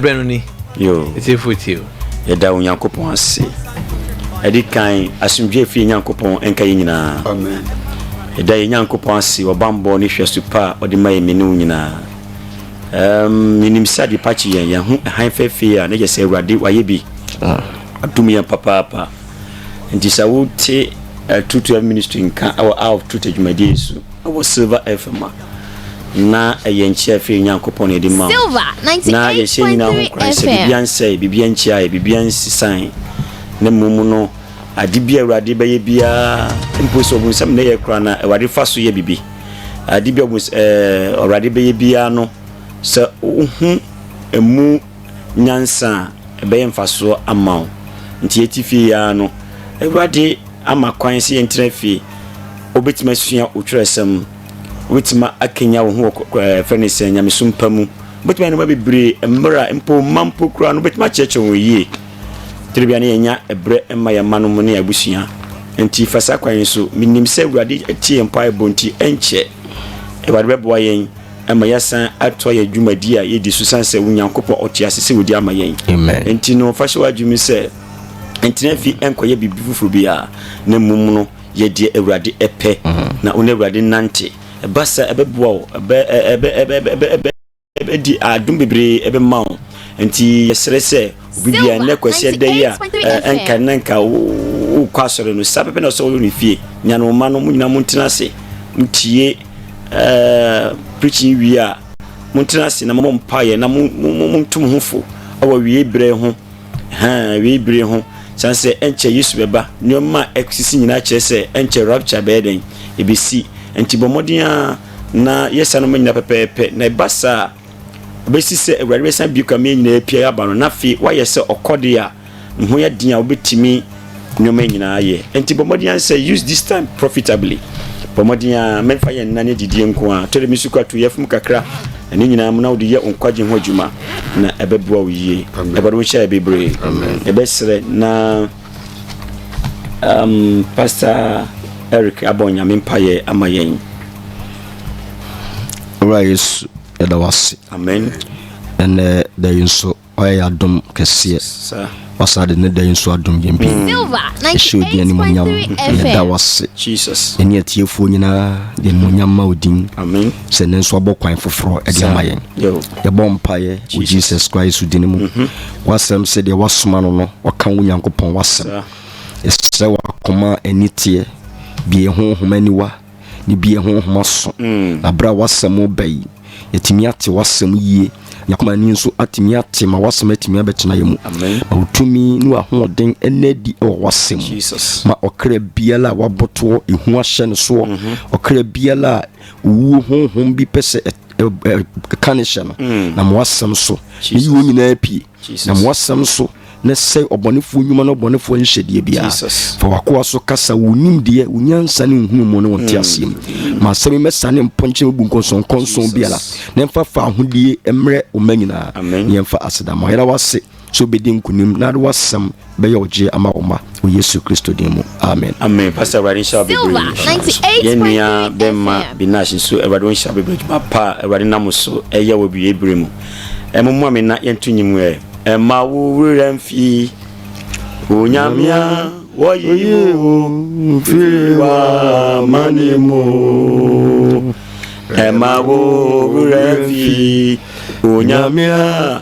berɛ no ni ɛtiefo tie o yɛda onyankopɔn ase ɛde kan asomdwoe fie nyankopɔn ɛnka yɛ nyinaa ɛda yɛ nyankopɔn ase ɔbambɔ ne hwɛ so pa a ɔde ma yɛ mene wo nyinaa um, menim sɛ adepa kye yɛn yɛn ho hann fɛfee a na yɛ sɛ awurade wayɛ bi ah. adom yɛn papaapa Enti sɛ wote True to Life Ministry nka wɔ Hour of Truth adwumadie yi so wɔ Silver FM a, na ɛyɛ nkyea ɛfiri yɛn Nyankopɔn na yɛde ma wo. Na yɛhyɛ nyinaa ho nkuran sɛ biribiara nsɛe, biribiara nkyia yɛ, biribiara nsisan, na mmom no ade bi a Awurade bɛyɛ biara, mpo sɛ ɔbonsam na ɛyɛ koraa na Awurade fa so yɛ biribi. Ade bi a Awurade bɛyɛ biara no, sɛ wohu ɛmu nyansa a, ɛbɛyɛ mfasoɔ ama wo. Nti yɛte fie yi ara no, Awurade ama kwan sɛ yɛntena fie. Wobɛtumi asua wo twerɛsɛm. Wobɛtumi akanya wo ho wɔ ɛfɛ ne sɛ nyamesom pa mu. Wobɛtumi ayɛ nneɛma bebree mmerɛ a mpo mma mpo koraa no wobɛtumi akyerɛkyerɛ wɔn yie. Tiri bia ne yɛnya ɛberɛ mma yɛn mma no mu ne yɛn abusua. Nti fa saa kwan yi so. Menim sɛ Awurade atie yɛn mpaebɔ nti ɛnkyɛ Awurade bɛboa yɛn. Ɛma yɛsan atoa yɛn dwumadi a yɛdi so san sɛ Onyankopɔn ɔte ase sɛ ɔdi ama yɛn. Enti no, fa hyɛ w'adwenem sɛ ntena fi nkɔyɛ biribi foforɔ biara, na mmom no yɛ deɛ Awurade pɛ, mm. na wo ne Awurade nnante. Ɛba saa ɛbɛboa wo, ɛbɛdi adom bebree ɛbɛma wo. Enti yɛsrɛ sɛ Obi biara nnɛ kwasi ɛda yi a ɛnka nnɛ nka wokɔ asɔre no saa pɛpɛ na ɔsɛ wɔyɛ ne fie nya no mma no mo nyinaa montena ase motie preaching wie a montena ase na mobɔ mpaeɛ na monto mo ho fo wɔ wiei berɛ ho wiei bere ho sane sɛ ɛnkyɛ yesu bɛba nneɛma a ɛsisi nyinaa kyerɛ sɛ ɛnkyɛ rapture bɛyɛ dɛn ɛbɛsi nti bɔ mmɔden a na yɛsa no ma nyina pɛpɛɛpɛ na ɛba saa ɛbɛsi sɛ Awurade bɛsan bue kame nyinaa apia aba no, na afei woayɛ sɛ ɔkɔdeɛ a ne ho yɛ den a wobɛtumi nneɛma nyinaa yɛ. Nti bɔ mmɔden ara sɛ use this time profitably. Bɔ mmɔden ara mɛmfa yɛ nna ne adidie nko ara. Tɔ dɛ me sukɔ ato yafum kakra, na ne nyinaa mu na wode yɛ wo nkwagye ho adwuma, na ɛbɛboa wo yie. Awurade wo nhyɛ yɛ bebree. Yɛbɛsrɛ na. Um, Pastor Eric abɔ nyame mpaeɛ ama yɛn. Owura Yesu, yɛda wase. Amen. Ɛnɛ da yi nso, ɔyɛ yɛ adom kɛseɛ. Sir. Wasa de ne da yi nso adom yɛn bi. Ɛhyɛ odin animonyam, yɛda wase. Jesus. Ɛne atiefoɔ nyinaa de animonyam ma odin. Amen. Sɛ ne nso abɔ kwan foforɔ ɛde ama yɛn. Yɛbɔ mpaeɛ wɔ Jesus Christ din mu. Mm-hmm. W'asɛm sɛ deɛ Woasoma no no ɔka Wo Nyankopɔn W'asɛm. Yɛsrɛ Wo akoma a ani teɛ, bue yɛn honhom aniwa, ne bue yɛn honhom aso, mm. na berɛ a W'asɛm reba yi, yɛtumi ate W'asɛm yie, yɛn akoma ani nso atumi ate ma W'asɛm atumi abɛtena yɛn mu. Ma Wo tumi ne W'ahoɔden ɛna adi wɔ W'asɛm mu. Ma ɔkra biara a wabotoɔ, ehu ahyɛ ne soɔ, mm-hmm. ɔkra biara a owuo honhom bi pɛ sɛ ka ne hyɛ no mm. na moasɛm so meyi wɔn nyinaa pie na moasɛm so na sɛ ɔbɔnefoɔ nnwuma no ɔbɔnefoɔ nhyɛdeɛ biara fa wakoa so kasa wo nimdeɛ wo nyansa ne nhunu mu ne wo nteaseɛ mu mm. ma asɛm mɛsa ne mpɔnkyerɛ mu bu nkɔnsɔnkɔnsɔn biara na ɛmfa fa ahodeɛ mmerɛ ɔma nyinaa ne ɛmfa asedama yɛra wase sɛ wobɛdi nkonim na ade w'asɛm bɛyɛ ɔgyeɛ ama wo mma wɔ Yesu Kristo din mu, amen. Amen pastor awurade nhyira wo bebree yɛn nua bɛma binash nso awurade wɔn nhyira bebree adwuma pa a awurade nam wo so ɛyɛ wɔ awie bere mu ɛmo mu ame na yɛn to nyim ɛ ɛma wo werɛ mfi onyamia wɔyi wo mfiri wa mani mu ɛma wo werɛ mfi onyamia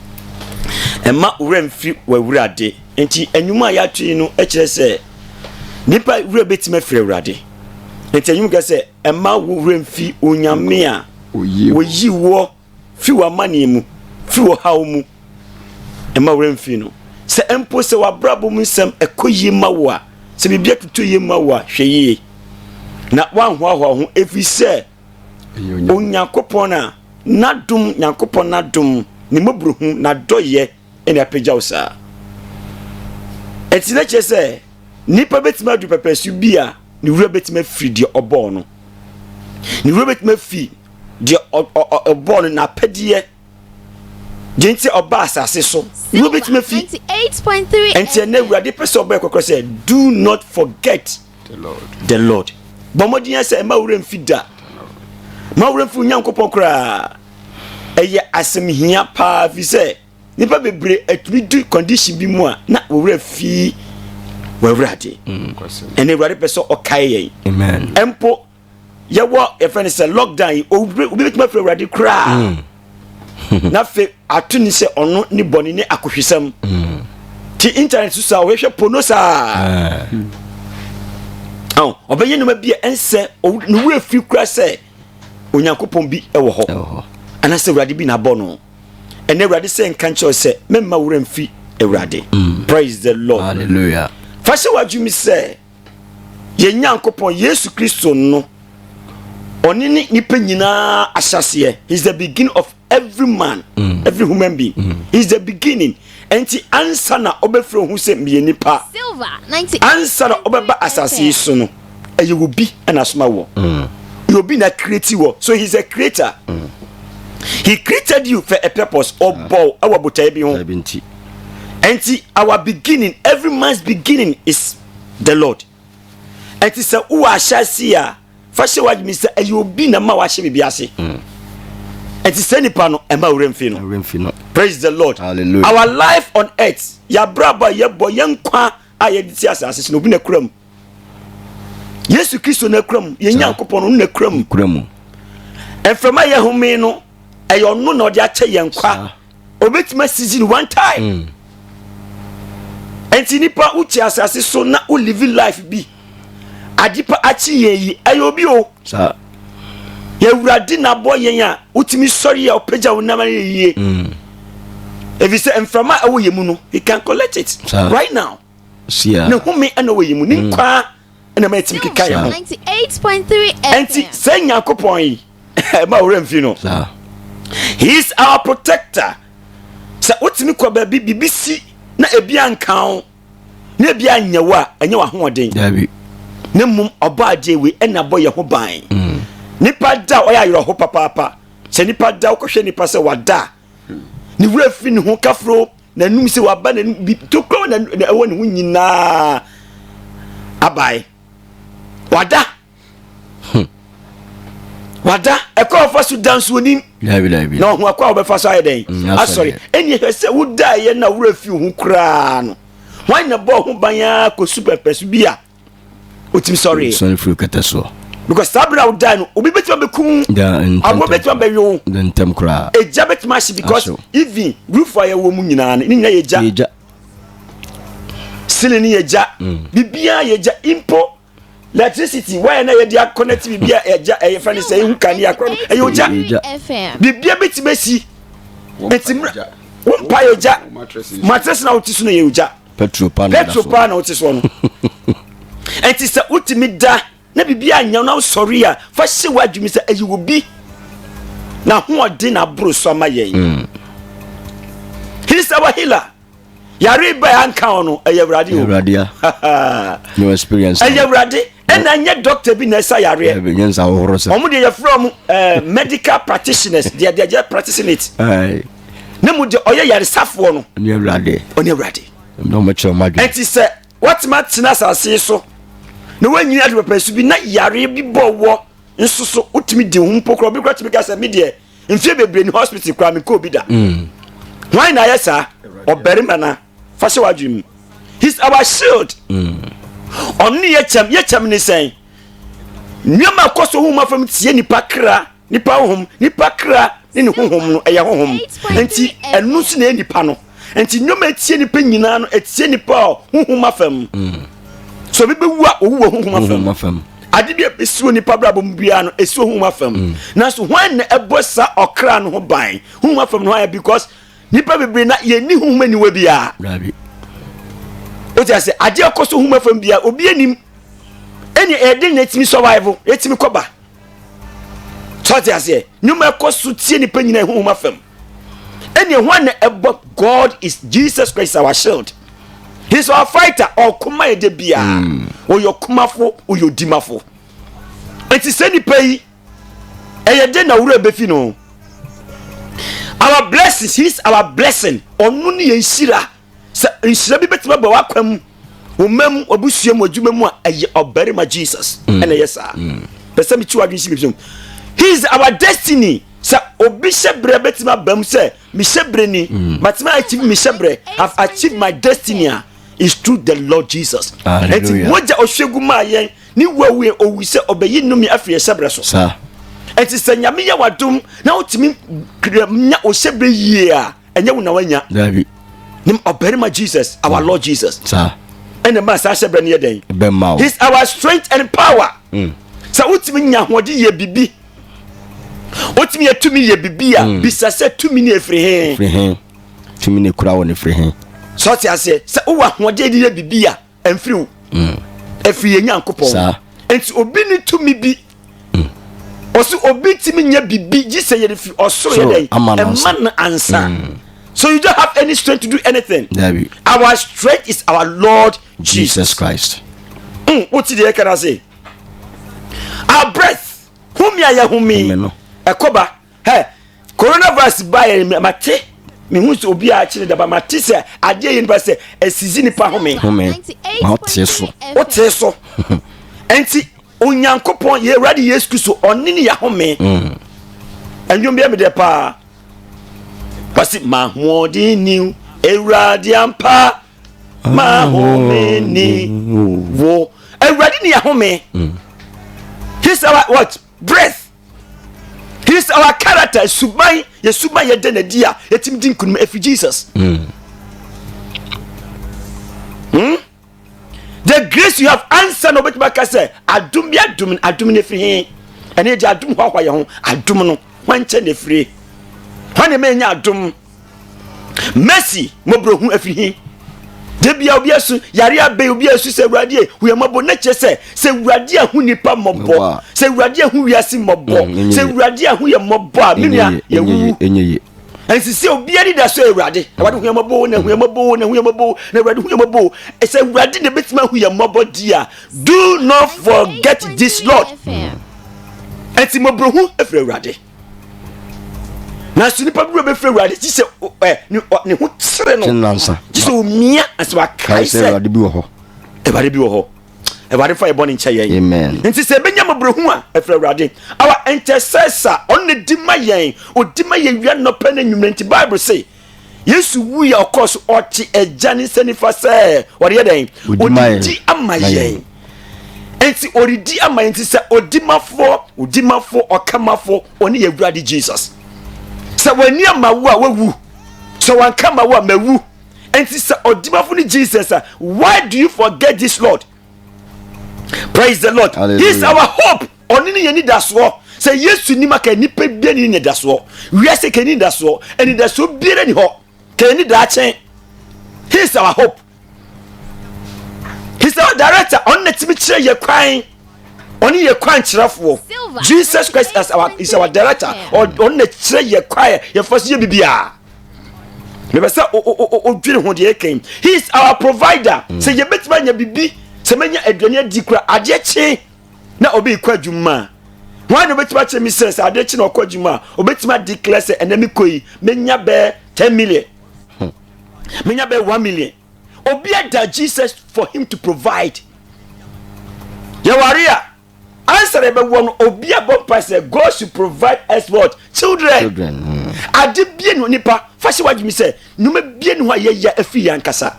Mma wo werɛ mfi w'Awurade. Nti nnwuma a yɛato yi no kyerɛ sɛ nipa werɛ bɛtumi afiri Awurade. Nti nnwuma kɛ sɛ mma wo werɛ mfi Onyame a wɔyi woɔ fi w'amanneɛ mu, fi wɔhaw mu. Mma werɛ mfi no. Sɛ mpo sɛ w'abrabɔ mu nsɛm ɛkɔ yie ma wo a, sɛ biribi atutu yie ma wo a, hwɛ yie na woanhoahoa ho ɛfiri sɛ Onyankopɔn a n'adom, Nyankopɔn n'adom, ne mmɔborohu, n'adɔyɛ ɛna apagya wo saa. Ɛti na kyerɛ sɛ nipa bɛtumi adu pɛpɛsu bi a ne wura bɛtumi afiri deɛ ɔbɔɔ no. Ne wura bɛtumi afi deɛ ɔbɔɔ no n'apɛdeɛ gye nti ɔba asase so na obetumi afi nti ɛnna awurade pɛ sɛ ɔbɛyɛ kɔkɔrɔ sɛ do not forget the lord bɔ mmɔden yɛ sɛ ɛma awura mfi da ma awura mfi onyankopɔn koraa ɛyɛ asɛm hia paa fi sɛ nipa bebree atumi du condition bi mu a na wɔwura fi wɔawurade mm, ɛnna awurade pɛ sɛ ɔkae yɛn mpo yɛwɔ yɛfrɛ no sɛ lockdown yi obi bɛtumi afiri awurade koraa mm. na afei ato ne sɛ ɔno ne bɔne ne akohwisɛm mm. ti internet so saa wɔhwɛ pono saa ah. ɔbɛyɛ nnoma bi a ɛnsɛ ne wura firi kora sɛ onyankopɔn bi wɔ hɔ anaasɛ awurade bi na abɔ no ɛnɛ awurade sɛ nka nkyerɛ sɛ mɛmma wura mfi awurade mm. praise the lord hallelujah fa hyɛ w'adwumi sɛ yɛn nyankopɔn yesu kristo no ɔne ne nipa nyinaa ahyɛseɛ he is the beginning of every man mm. every human being mm. he is the beginning nti ansa na ɔbɛfiri ho sɛ meyɛ nipa ansa na ɔbɛba asase yi so no ɛyɛ obi ɛna asoma wɔ mm. yɛ obi na create wɔ so he is a creator mm. he created you for a purpose ɔbɔw ɛwɔ botae bi ho Enti our beginning every man's beginning is the Lord. Enti sɛ wowɔ ahyɛase a fa hyɛ w'adwene sɛ ɛyɛ obi na ma wahyɛ biribi ase. Mm. Enti sɛ nipa no ɛma wura mfi no. Praise the Lord. Hallelujah. Our life on earth, yɛabrabɔ a yɛbɔ yɛn nkwa a yɛde ti asase so no obi na kura mu yesu kristo na kura mu yɛn nyankopɔn no na kura mu kura mu mframa yɛ home no ɛyɛ ɔno na ɔde akyɛ yɛn kwa obetumi asisi no one time mm. nti nipa wote asase so na wo live life bi adepa akyi yɛn yi ɛyɛ obi o. yɛwurade na abɔ yɛn a wotumi sɔre yɛ ɔpagya wo nam ayɛ yie mm. ɛfiri sɛ mframa ɛwɔ yɛ mu no he can collect it right now ne home ɛna wɔ yɛ mu ne mm. nkwaa ɛna ma ɛtumi keka yɛ ho ɛnti sɛ nyankopɔn yi ɛma worɛ mfi no he is our protector sɛ wotumi kɔ baabi biribi si na ebi anka wo na ebi anyɛ wo a ɛnyɛ w'ahoɔden na mmom ɔbɔ adeɛ wei ɛna bɔ yɛ ho ban mm. nipa da ɔyɛ ayerɛho papaapa sɛ nipa da wokɔhwɛ nipa sɛ wada ne wura firi ne ho kafuro n'anum sɛ waba n'anum bi tokuro na ɛwɔ ne ho nyinaa abae wada hmm. wada ɛkɔ ɔfa so da nsuonim na ɔho akɔ a wɔbɛfa so ayɛ dɛn mm, asɔre ɛne ɛhwɛ sɛ wodaeɛ na wura fi ho koraa no hwan na bɔɔ ho ban ara kɔsu pɛpɛ so bi a ɔtumi sɔreɛ because saa berɛ a wodae no obi bɛtumi abɛkum aboɔ bɛtumi abɛwe wo ɛgya bɛtumi ahye because even roof a yɛwɔ mu nyinaa no ne nyina yɛgya sili ne yɛgya mm. biribiaa yɛgya mpo electricity wire na yɛde akɔnɛte biribi a ɛgya ɛyɛ fɛn sɛ ehu kanea korɔ no ɛyɛ ogya biribi a bɛtumi asi nti mmerɛ wo mpa yɛ ogya matress na wote so no yɛ ogya petro paa na wote soɔ no ɛnti sɛ wotumi da na biribi anyɛ na wosɔre a fa hyɛ w'adwumi sɛ ɛyɛ obi na hoɔden na aboro so ama yɛn mm. hisa wahila yare ba yɛ anka wɔn no ɛyɛ awurade o awurade a no experience ɛyɛ awurade ɛna nyɛ doctor bi na ɛsa yareɛ ɛnyɛ nsa ahohoro sɛ wɔn deɛ yɛfrɛ wɔn eh, medical practitioners deɛ deɛ yɛ practicing it na mu deɛ ɔyɛ yaresafoɔ no ɔne awurade ɔne awurade na wɔn kyerɛ wɔn adwene ɛti sɛ wɔtema tena asase so na wɔnyini adi pɛpɛ so bi na yare bi bɔ wɔ nso so wotumi di ho mpo korɔ bi korɔ tumi ka sɛ mi deɛ mfie bebree ni hospital koraa mi kɔɔ bi da mm. hwan na ayɛ saa ɔbarima na fa hyɛ w'adwene mu he's our shield mm. ɔno ne yɛkyɛm yɛkyɛm ne sɛn nneɛma ɛkɔ so honhom afam tie nipa kra nipa honhom nipa kra ne ne honhom no ɛyɛ honhom nti ɛno nso na ɛyɛ nipa no nti nnwom a ɛtie nipa nyinaa no ɛtie nipa a honhom afam so obi bɛwu a ɔwu wɔ honhom afam ade bi a ɛsi wɔ nipa brabɔ mu biara no ɛsi wɔ honhom afam mm. nanso hwan na ɛbɔ saa ɔkra no ho ban honhom afam no ayɛ because nipa bebree na yɛnni honhom aniwa biara o ti ase adeɛ ɛkɔ so honhom afam biara obi anim ɛne ɛde na ɛtumi survive ɛtumi kɔba sɛ ɔte aseɛ nnwuma ɛkɔ so tie nipa nyinaa ɛhohom afam ɛne ɛho na ɛbɔ god is jesus christ our shield he's our fighter ɔkoma ɛde biara hmm. ɔyɛ ɔkomafo ɔyɛ odimafo ɛti sɛ nipa yi ɛyɛ de na wura bɛfi no our blessings he's our blessing ɔno ne yɛn hyira Sɛ nhyira bi bɛtumi aba w'akwan mu wo mma mu w'abusua mu adwuma mu a ɛyɛ ɔbarima jesus mm. ɛna ɛyɛ saa mm. pɛ sɛ mekyi w'adwene si bibisɛm he is our destiny sɛ obi hyɛ berɛ bɛtumi aba mu sɛ mehyɛ berɛ ni mm. matumi achieve mehyɛ berɛ have achieved my destiny a is through the lord jesus ɛnti mogya ɔhwɛgu maa yɛn ne wuawue owu sɛ ɔbɛyi nnome afiri ɛhyɛ berɛ so ɛnti sɛ nyame yɛ wadom na wotumi nya ɔhyɛ berɛ yie a ɛnyɛ wo na wanya dabi nim ɔbarima jesus our lord jesus saa ɛna ma saa hyɛ brɛ no yɛ dɛn bɛma wo his our strength and power mm. sɛ wotumi nya ahoɔden yɛ bibi wotumi yɛ tumi yɛ bibi a mm. bisa sɛ tumi ne ɛfiri he tumi ne kura wɔ ne firi he sɛ ɔte aseɛ sɛ wowɔ ahoɔden de yɛ bibi a ɛmfiri wo mm. ɛfiri yɛ nyankopɔn nti obi ne tumi bi mm. ɔsɛ obi tumi nyɛ biribi gye sɛ yɛde firi ɔsoro yɛ dɛn ɛma no ansa mm. so you don't have any strength to do anything Dabi. our strength is our lord jesus, jesus christ mm, wote deɛ ɛka no ase our breath home a yɛhome ɛkɔba hɛ coronavirus baeɛ no mate mehu sɛ obi a akyerɛ daba mate sɛ adeɛ yɛ nipa sɛ asizi nipa home home ma wotee so wotee so ɛnti onyankopɔn yɛ awurade yesu kristo ɔne ne yɛhome mm. ɛnwom biɛ medɛ paa wasi mahoɔden ni awurade ampa mahome ni wo awurade ne yɛhome mm. his our what breath his our character suban yɛ suban yɛ dɛ na di a yɛtumi di nkunim efi jesus. Mm. Hmm? the grace you have answer na obetumi aka sɛ adum bi adum adum na efiri hin ɛne ɛdi adum hɔ ahɔ yɛ ho adum no wɔn nkyɛn na efiri wɔn na ɛmɛ nya adum. mercy mmɔborɔhu afiri he da bia obi asu yare abɛn obi asu sɛ awurade e hu yɛ mmɔbɔ na kyerɛ sɛ sɛ awurade ahu nipa mmɔbɔ sɛ awurade ahu wiase mmɔbɔ mm, sɛ awurade ahu yɛ mmɔbɔ a menua yɛwu ɛnsi sɛ obiara ni da so awurade awurade hu yɛ mmɔbɔ na hu yɛ mmɔbɔ na hu yɛ mmɔbɔ na awurade hu yɛ mmɔbɔ sɛ awurade na ebetumi ahu yɛ mmɔbɔ di a do not forget this lord ɛnti mmɔborɔhu efiri awurade. nanso nipa bi wura bɛfiri awurade gye sɛ ɛ ne ɔ- ne ho kyerɛ no Kyenansa. gye sɛ omia ɛsɛ wakae kae sɛ sɛ awurade bi wɔ hɔ awurade bi wɔ hɔ awurade fa yɛbɔ ne nkyɛ yɛn Amen. nti sɛ ɛbɛnya mmɔborɔhu a ɛfiri awurade our intercessor ɔno na di ma yɛn ɔdi ma yɛn wia nnɔpɛ no anwummerɛ nti bible se yesu wui a ɔkɔɔ so ɔte agya ne nsa nifa sɛ ɔde yɛ dɛn ɔdidi ama yɛn nti ɔdidi ama yɛn nti sɛ ɔdimafoɔ ɔdimafoɔ ɔkamafoɔ ɔne yɛ awurade jesus sɛ wɔani ama wo a wawu sɛ wɔanka ama wo a mawu nti sɛ ɔdimafo ne jesus a why do you forget this lord praise the lord Hallelujah. he is our hope Ɔno ne yɛn anidasoɔ. Sɛ Yesu nnim a, ka nnipa biara ne anidasoɔ. Wiase ka ne anidasoɔ. Anidasoɔ biara ni hɔ. Ka yɛn daakye. He is our hope. He is our director. Ɔno na tumi kyerɛ yɛ kwan. Ɔne yɛ kwan kyerɛfoɔ. Jesus Christ as our, is our director. Ɔno na kyerɛ yɛ kwan yɛfa so yɛ biribiara. Mepɛ sɛ odwiri ho deɛ ɛkɛn. He is our provider. Mm. Sɛ yɛbɛtumi anya biribi, sɛ mɛnya aduane adi kura adeɛ kye. na obi rekɔ adwuma a hwan na obetumi akyerɛ me sɛ sɛ ade kye na ɔkɔ adwuma a obetumi adi kila sɛ ɛnna mi kɔ yi menya bɛɛ ten million hmm. menya bɛɛ one million obi ada jesus for him to provide yɛware a answer ɛbɛwɔ no obi abɔ mpa sɛ god should provide us what children, children. Hmm. ade bie no nipa fa hyɛ wadwumi sɛ nneɛma bie no ho a yɛyɛ afiri yɛn ankasa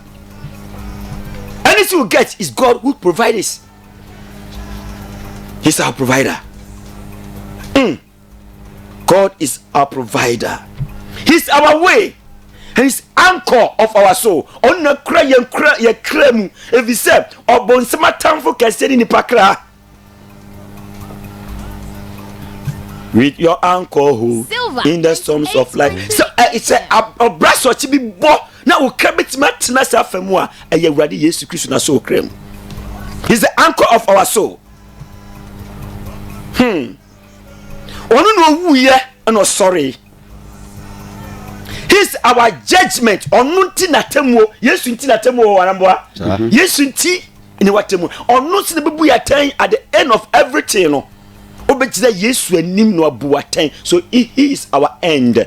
anything you get is god who provide us. He's our provider. Mm. God is our provider. He's our way. And he's anchor of our soul. Ɔna kura yɛn kura yɛ kura mu. Ebi sɛ ɔbɔnsɛm atamfo kɛse ne nipa kra. With your anchor hold in the storms of life. So uh, it's a ɔbra sɔkye bi bɔ. Na wo kra bɛtumi atena ase afa mu a ɛyɛ Awurade Yesu Kristo na so kra mu. He is the anchor of our soul. Hmm. Ɔno na ɔwuiɛ ɛna ɔsɔre. He is our judgment. Ɔno nti na atemuo. Yesu nti na atemuo wɔ waramboa. Mm-hmm. Yesu nti ne watemuo. Ɔno nti na bɛbu yɛ atɛn at the end of everything no. Wobɛgyina Yesu anim na wabu atɛn. So he is our end.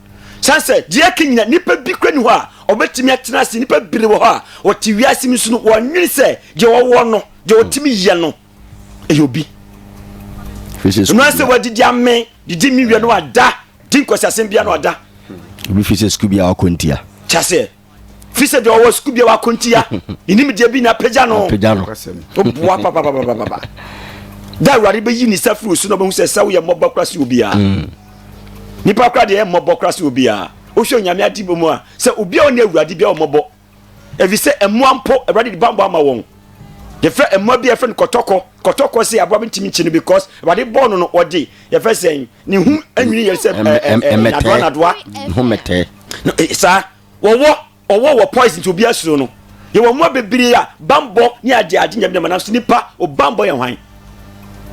San sɛ, deɛ ɛka nyina, nipa bi kura ni hɔ a ɔbɛtumi atena ase. Nipa bere wɔ hɔ a wɔte wiase mu nso no, wɔnwene sɛ deɛ ɔwɔ no, deɛ ɔtumi yɛ no, ɛyɛ obi. Ɛnua sɛ wɔadidi ame, didi mi wia no ada, di nkɔsiasɛm bia no ada. Obi fi sɛ sukuu bi a ɔkɔ ntia. Kyaseɛ. fi sɛ deɛ ɔwɔ sukuu biara akontia ne nimdeɛ bi na apagya no boa papapapapa da awurade bɛyi ne sa firi so na ɔbɛhu sɛ sɛ woyɛ mmɔbɔ kora se obiara mm. nipa kora deɛ mmɔbɔ kora se obiara wohwɛ onyame ade mu a sɛ obiara ɔne awurade biara ɔmmɔbɔ ɛfiri sɛ mmoa mpo awurade de bambɔ ama wɔn yɛfrɛ mmoa bi yɛfrɛ no kɔtɔkɔ kɔtɔkɔ sɛ aboa bi ntumi nkyi no because awurade bɔɔ no no ɔde yɛfrɛ sɛn ne ho nwini yɛ sɛ nadoa nadoa ho mɛtɛɛ saa wɔwɔ ɔwɔ wɔ poison nti obiara suro no yɛwɔ mmoa bebree a bambɔ ne agye agye nyɛ bi dɛm nanso nipa ɔbambɔ yɛ hwan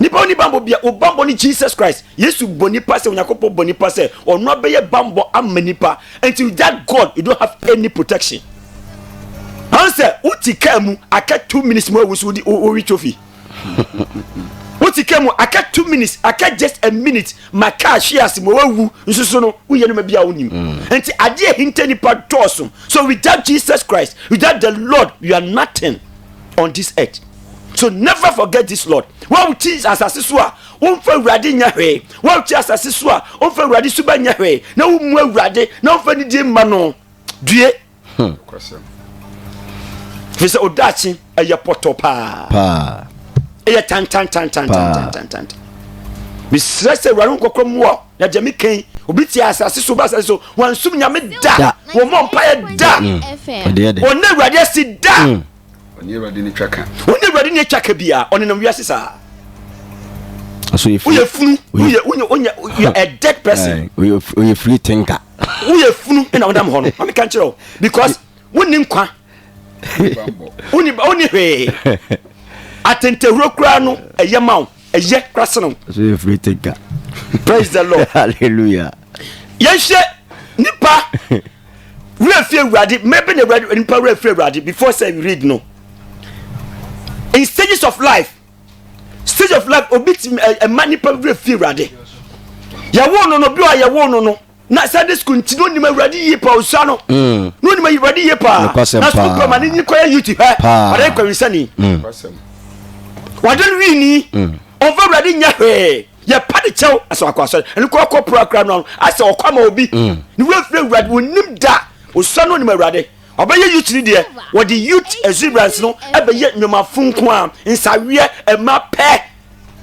nipa oni bambɔ bia ɔbambɔ ne jesus christ yesu bɔ nipa sɛ onyankopɔn bɔ nipa sɛ ɔno abɛyɛ bambɔ ama nipa nti that god you don't have any protection ansɛ woti kaa mu aka two minutes mu awu so wode wowi trophy wote ka mu aka two minutes aka just a minute ma kaa hwe ase ma wawu nso so no woyɛ nneɛma bi a wonim mm. nti adeɛ hinta nipa dɔɔso so without jesus christ without the lord you are nothing on this earth so never forget this lord wawokyi asase so a womfa awurade nyɛ hwee wawokyi asase so a womfa awurade suba nyɛ hwee na womu awurade na womfa nidie mma no due Hmm. Firi sɛ odaakye ɛyɛ pɔtɔ paa paa ɛyɛ tantantantantantantantan mesrɛ sɛ awurade nkɔkɔ mmoa na deɛ meka yi obi te asase so ba asase so wansom nyame da wɔmmɔ mpaeɛ da ɔne awurade asi da ɔne mm. awurade ne twa ka ɔne awurade ne twa ka biaa ɔnenam wiase saa woyɛ funu woyɛ woyɛ woyɛ a dead person woyɛ firi tinka woyɛ funu na wonam hɔ no ma meka nkyerɛ wo because wonni nkwa wonni hwee atentahuro koraa no ɛyɛ ma wo ɛyɛ kora sene wo praise the lord hallelujah yɛnhyɛ nipa werɛ fi awurade mɛbɛ na awurade nipa werɛ fi awurade before say you read no in stages of life stage of life obi ti ɛma nipa wura fi awurade yɛwoo no no bi a yɛwoo no no na sunday school nti na onim awurade yie paa osua no mm. na onim awurade yie paa na sukuu kura ma ne nyi kɔyɛ youth hɛ ɔde nkɔyɛ nsani mm. wɔde no wii ni mm. ɔnfɔ awurade nyɛ hwee yɛ pa de kyɛw asɛ wakɔ asɔre ɛne kɔ kɔ pura kura no asɛ ɔkɔ ama obi ne wura fira awurade onim da osua no onim awurade. Ɔbɛyɛ youth ni deɛ wɔde youth exuberance no ɛbɛyɛ nnwomafo nko a nsaweɛ ɛma pɛ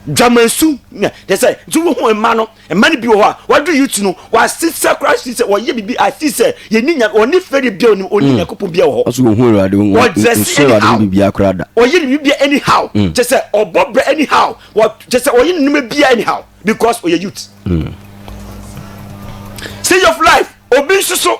dwamansu na kyɛ sɛ nti wo ho mma no mma no bi wɔ hɔ a wɔadu youth no wɔasesa kora si sɛ wɔyɛ biribi asi sɛ yɛni nya wɔne fɛde bia onim ɔni hmm. nyakopɔn bia wɔ hɔ ɔso wɔhu awurade wɔdrɛse anyhow bibia kora da wɔyɛ ne bibia anyhow hmm. kyɛ sɛ ɔbɔ brɛ anyhow kyɛ sɛ wɔyɛ ne noma bia anyhow because ɔyɛ youth hmm. stage of life obi nso so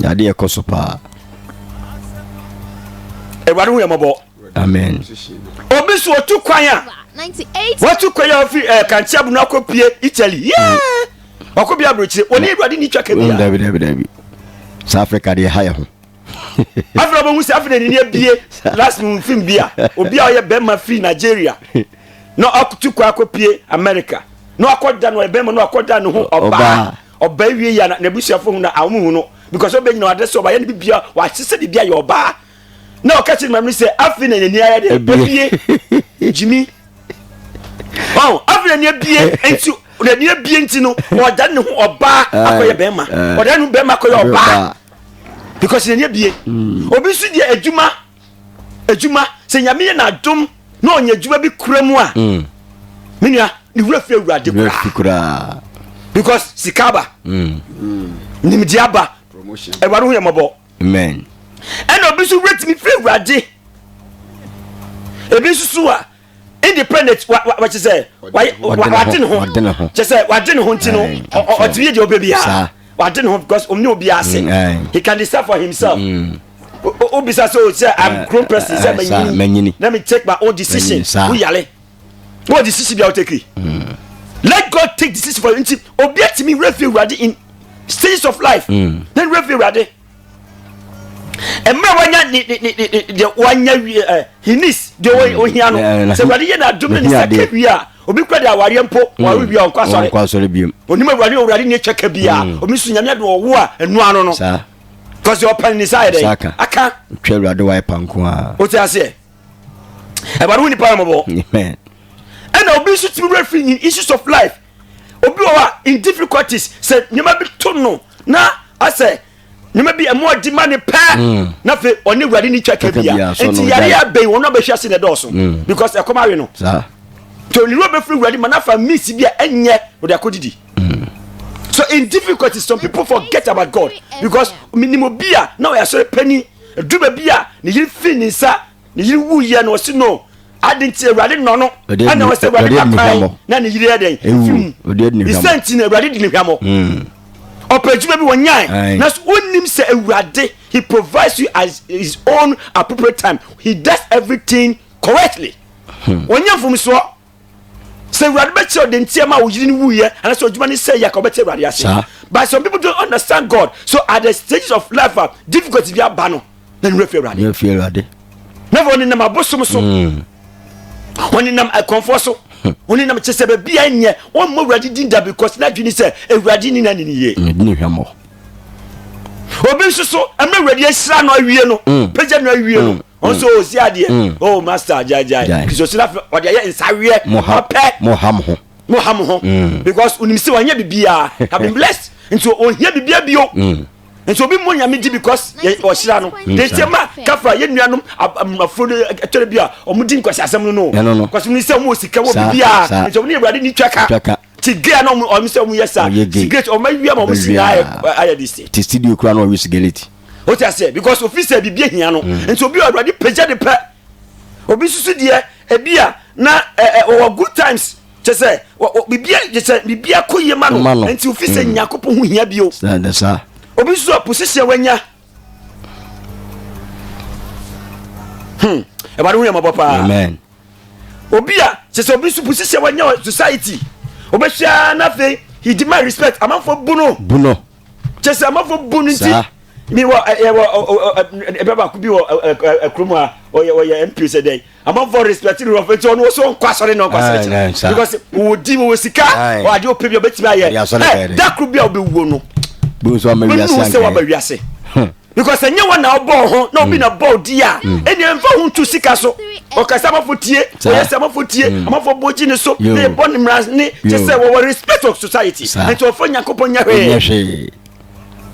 na adeɛ ɛkɔ so paa awurade ho yɛ mmɔbɔ amen obi so otu kwan a watu kwan a ofi ɛɛ eh, kankyia bunu akɔ pie italy yɛɛ wakɔ bi aburokyire wɔn ni awurade ni twa kɛ bia dabi dabi dabi saa africa deɛ ha yɛ ho afei ɔbɛhu sɛ afei n'ani abie last mu fim bi a obi a ɔyɛ bɛrima firi nigeria na ɔtu kwan akɔ pie america na wakɔ da no ɔyɛ bɛrima na wakɔ da ne ho ɔbaa. Ɔbaa wie yɛ na n'abusuafo hu na a wɔn hu no because ɔbɛ nyina ɔade so ɔbaa yɛ ne bibia w'ahyehyɛ bibia yɛ ɔbaa na ɔka kyerɛ maame no sɛ afei na n'ani ayɛ dɛ ebie gyimi ɔn afei na n'ani abie nti n'ani abie nti no ɔda ne ho ɔbaa akɔyɛ bɛrima ɔda ne ho bɛrima akɔyɛ ɔbaa because n'ani abie obi nso deɛ adwuma. adwuma sɛ nyame yɛ n'adom na ɔnya adwuma bi kura mu a mm. me nua ne wura fi awurade koraa because sika aba mm. nimdeɛ aba awurade ho yɛ mmɔbɔ ɛna obi nso wura tumi fi awurade ebi nso so a indi pɛ na wɔkye sɛ wade ne ho kyɛ sɛ wade ne ho nti no ɔtumi yɛ deɛ ɔbɛ biara wade ne ho because ɔmne obiara ase he can decide for himself mm. wobisa sɛ sɛ oh, am grown person sɛ manyini na me take my own decision woyale na wɔ decision bia wotakiri mm. let god take decision for you nti obi atumi werɛ fi awurade in stages of life mm. na werɛ fi awurade mmerɛ wanya deɛ wanya wie ɛ eh, hinis deɛ mm. ohia no eh, eh, sɛ awurade yɛ n'adom no ne sɛ ka wie a obi kura de awareɛ mpo mm. ware wie a ɔnkɔ asɔre ɔnkɔ asɔre biom onim awurade owurade ne atwa ka bi a mm. omi so nyame ade ɔwo a ɛnu ano no saa kɔsi ɔpɛn ne sa yɛ dɛ aka twɛ awurade wa ɛpa nko a o ti aseɛ ɛbɛn wo nipa yɛ mɔbɔ ɛna obi nso ti mi wura fi in issues of life obi wɔ hɔ a in difficulties sɛ nneɛma bi to no na asɛ nneɛma bi ɛmo ɔdi ma ne pɛɛ mm. na afei ɔne awurade ne twa kabea nti yare abɛn wɔn a bɛhwɛ ase na ɛdɔɔso mm. because ɛkɔm awe no nti oniri a bɛfiri awurade ma n'afa miisi bi a ɛnyɛ ɔde akɔ didi mm. so in difficulties some people forget about God because minimu bi a na ɔyɛ asɔre panyin adwuma bi a ne yiri fi ne nsa ne yere wu yɛ no ɔsi no adi nti awurade nɔ no ɛna ɔsɛ awurade ba kwan na ne yere yɛ dɛn fim isɛ nti na awurade di ne hwamɔ hmm. ɔpɛ adwuma bi wɔnyae na so wonim sɛ awurade he provides you as his own appropriate time he does everything correctly wɔnyɛ hmm. mfomsoɔ sɛ awurade bɛkyerɛ ɔde nti ɛma wo yiri no wuyɛ anasɛ ɔdwuma ne sɛ yɛ ka wobɛte awurade ase but some people don't understand god so at the stages of life a difficulty bi aba no na ne wurafi awurade na fɔ ɔnenam abosom so hmm. ɔnenam akɔmfoɔ so hmm. ɔnenam kyɛ sɛ baabi a nyɛ wɔmmɔ awurade din da because na adwene sɛ awurade ne na ne ne yie obi nso so ɛmɛ awurade ahyira no awie no hmm. pagya no awie no wọn nso ɔsi adeɛ mm. oh master gyaegyae kisosira fɛ ɔde ayɛ nsaweɛ ɔpɛ moham ho moham ho mm. because onim sɛ wanyɛ biribiaa have been blessed nti ɔhia biribia bio mm. nti obi mmɔ nyame gye because ɔhyira no dekyɛ ma kafra yɛ nuanom afuro no ɛtɔre bi a ɔmodi nkwasi asɛm no no kwasi no sɛ ɔmɔ sika wɔ biribiaa nti ɔmo ne awurade ni twaka tigea na ɔmo ɔmo sɛ ɔmo yɛ sa sigareti ɔmo awia ma ɔmo si na ayɛ ayɛ de se. ti studio kura na ɔyɛ sigareti. o ti ase because ofi sɛ bibi ehia no mm. nti obi awurade pagya de pɛ obi susu deɛ ebi a na ɛɛ ɔwɔ good times kyɛ sɛ bibi kyɛ sɛ bibi akɔ yie ma no nti ofi sɛ mm. nyakopɔ ho hia bi o obi susu a position wanya. Hmm. ɛwade ho yɛ mɔbɔ paa obi a sɛ sɛ obi so bu sisɛ wanya wɔ society obɛhyia na afei he demand respect amanfoɔ bu no bu no kyɛ sɛ amanfoɔ bu no nti mi wɔ ɛwɔ ɛbɛ baako bi wɔ kurom a ɔyɛ ɔyɛ mp sɛ dɛn amanfoɔ respect no wɔfɛ nti ɔno wɔ so nkɔ asɔre na ɔnkɔ asɔre kyerɛ because wɔ di wɔ sika wɔ adeɛ ɔpɛ bi a ɔbɛtumi ayɛ ɛ dakoro bi a ɔbɛwuo no bɛnu sɛ wɔaba wiase hmm. because ɛnyɛ wɔn na ɔbɔɔ ho na obi mm. na bɔɔ di a mm. ɛnna ɛnfa ho ntu sika so ɔkasa amafo tie ɔyɛ sɛ amafo tie mm. amafo bɔ gyi ne so na ɛbɔ ne mmara ne kyɛ sɛ wɔwɔ respect of society nti ɔfɔ nyankopɔn nyɛ hwee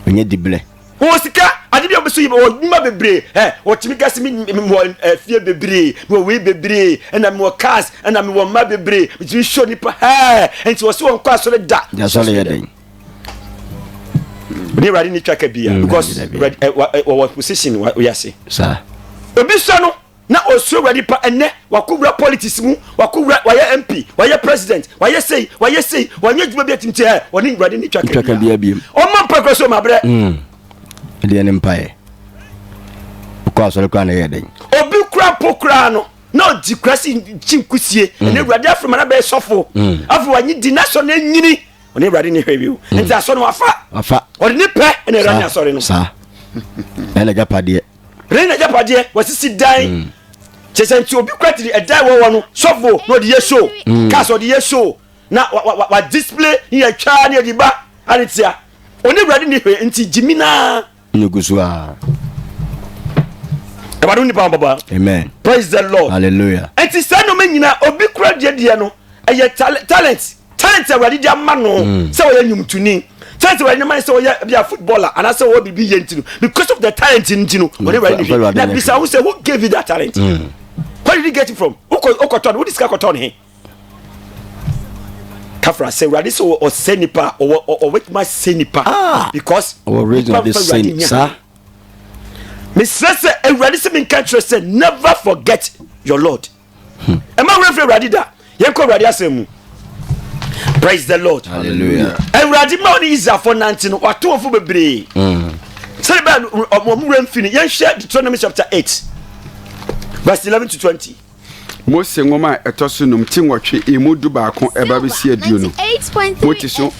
ɔnyɛ dibilɛ wɔn sika ade bi a wɔbɛso yi wɔ nnwuma bebree ɛ wɔtumi gasi mi mi wɔ ɛ fie bebree mi wɔ wei bebree ɛna mi wɔ cars ɛna mi wɔ mma bebree mi tumi sɔ nipa ɛ nti wɔsi wɔn kɔ asɔre da. yasɔre yɛ dɛ. ne awurade ne twa ka bia mm, because wɔwɔ position wɔyɛ ase obi sɔ no na ɔsuro awurade pa ɛnɛ wakɔwura politics mu wakɔwura wayɛ mp wayɛ president wayɛ sei wayɛ sei wanyɛ adwuma bi atim tiɛ ɔne awurade ne twa ka bia ɔma mpa kura so mabrɛ mm. ɛdeɛ ne mpaeɛ wokɔ asɔre koraa na ɛyɛ dɛn obi kura po koraa no na ɔdi kura si nkyi nkusie mm. ɛne awurade afrɛ ma na bɛyɛ sɔfo afei wanye di na sɔ no anyini ɔne awurade ne hwɛ bio nti asɔ no wafa wafa ɔde ne pɛ ɛna awurade ne asɔre no saa ɛna agyapadeɛ ɛna agyapadeɛ wasisi dan mm. kyɛ sɛ nti obi kura tiri ɛdan wɔwɔ no sɔfo na ɔde yɛ show mm. cars ɔde yɛ show na wa wa wa display ne yɛ twa ne yɛ de ba ane tia ɔne awurade ne hwɛ nti gyimi naa Nnugu so a. Ɛwɔ adi nipa ɔbɔbɔ. Amen. Praise the Lord. Hallelujah. Ɛnti sɛ nnoma nyina obi kura deɛ deɛ no ɛyɛ talent talent awurade di ama no mm. sɛ ɔyɛ nnwomtoni talent awurade nama sɛ ɔyɛ bi a footballer anaasɛ ɔwɔ biribi yɛ nti no because of the talent nti no ɔne awurade ne bi na bisa ho sɛ who gave you that talent mm. where did you get it from wokɔtɔ no wode sika kɔtɔ no he kafra sɛ awurade sɛ ɔsɛ nipa a ɔbɛtumi asɛ nipa ah! because nipa mfa awurade nya mesrɛ sɛ awurade sɛ menka kyerɛ sɛ never forget your lord hmm. ɛma werɛ mfiri awurade da yɛnkɔ awurade asɛm mu praise the lord awurade ma ɔne israelfoɔ nante no watoɔfo bebree hmm. sɛde bɛɛ ɔmo werɛ mfiri no yɛnhwɛ deuteronomy chapter 8 verse 11 to 20 Mose nwoma a ɛtɔ so num ti nwɔtwe emu du baako ɛba bɛsi aduonu. Mote so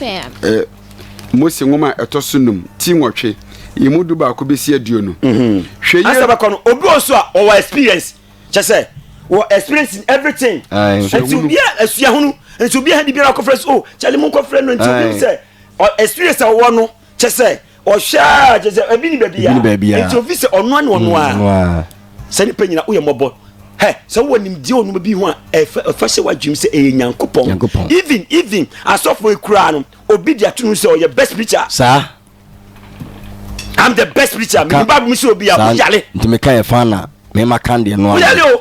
eh, Mose nwoma a ɛtɔ so num ti nwɔtwe emu du baako bɛsi aduonu. Mhm. Hwɛ yie. Asɛ bɛkɔ no obi wɔ so a ɔwɔ experience kyɛ sɛ wɔ experience in everything. Nti obi a asuahunu nti obi a hɛn de biara kɔfrɛ so o oh, kyale mu nkɔfrɛ no nti obi sɛ experience a ɔwɔ no. kyɛ sɛ ɔhwɛ a kyɛ sɛ ebi ni baabi a Ebi ni baabi a. nti ofi sɛ ɔno ne ɔno Mm, a no a. sɛ nipa nyina woyɛ mmɔbɔ hɛ sɛ wowɔ nimdeɛ onuma bi ho a ɛfa ɛfa hyɛ w'adwenem sɛ ɛyɛ nyankopɔn Nyankopɔn. even even asɔfoɔ yi koraa no obi de ato no sɛ ɔyɛ best preacher saa am the best preacher mede bible mu sɛ obi a ka woyare nti meka yɛ fa na mema kan deɛ no a woyare o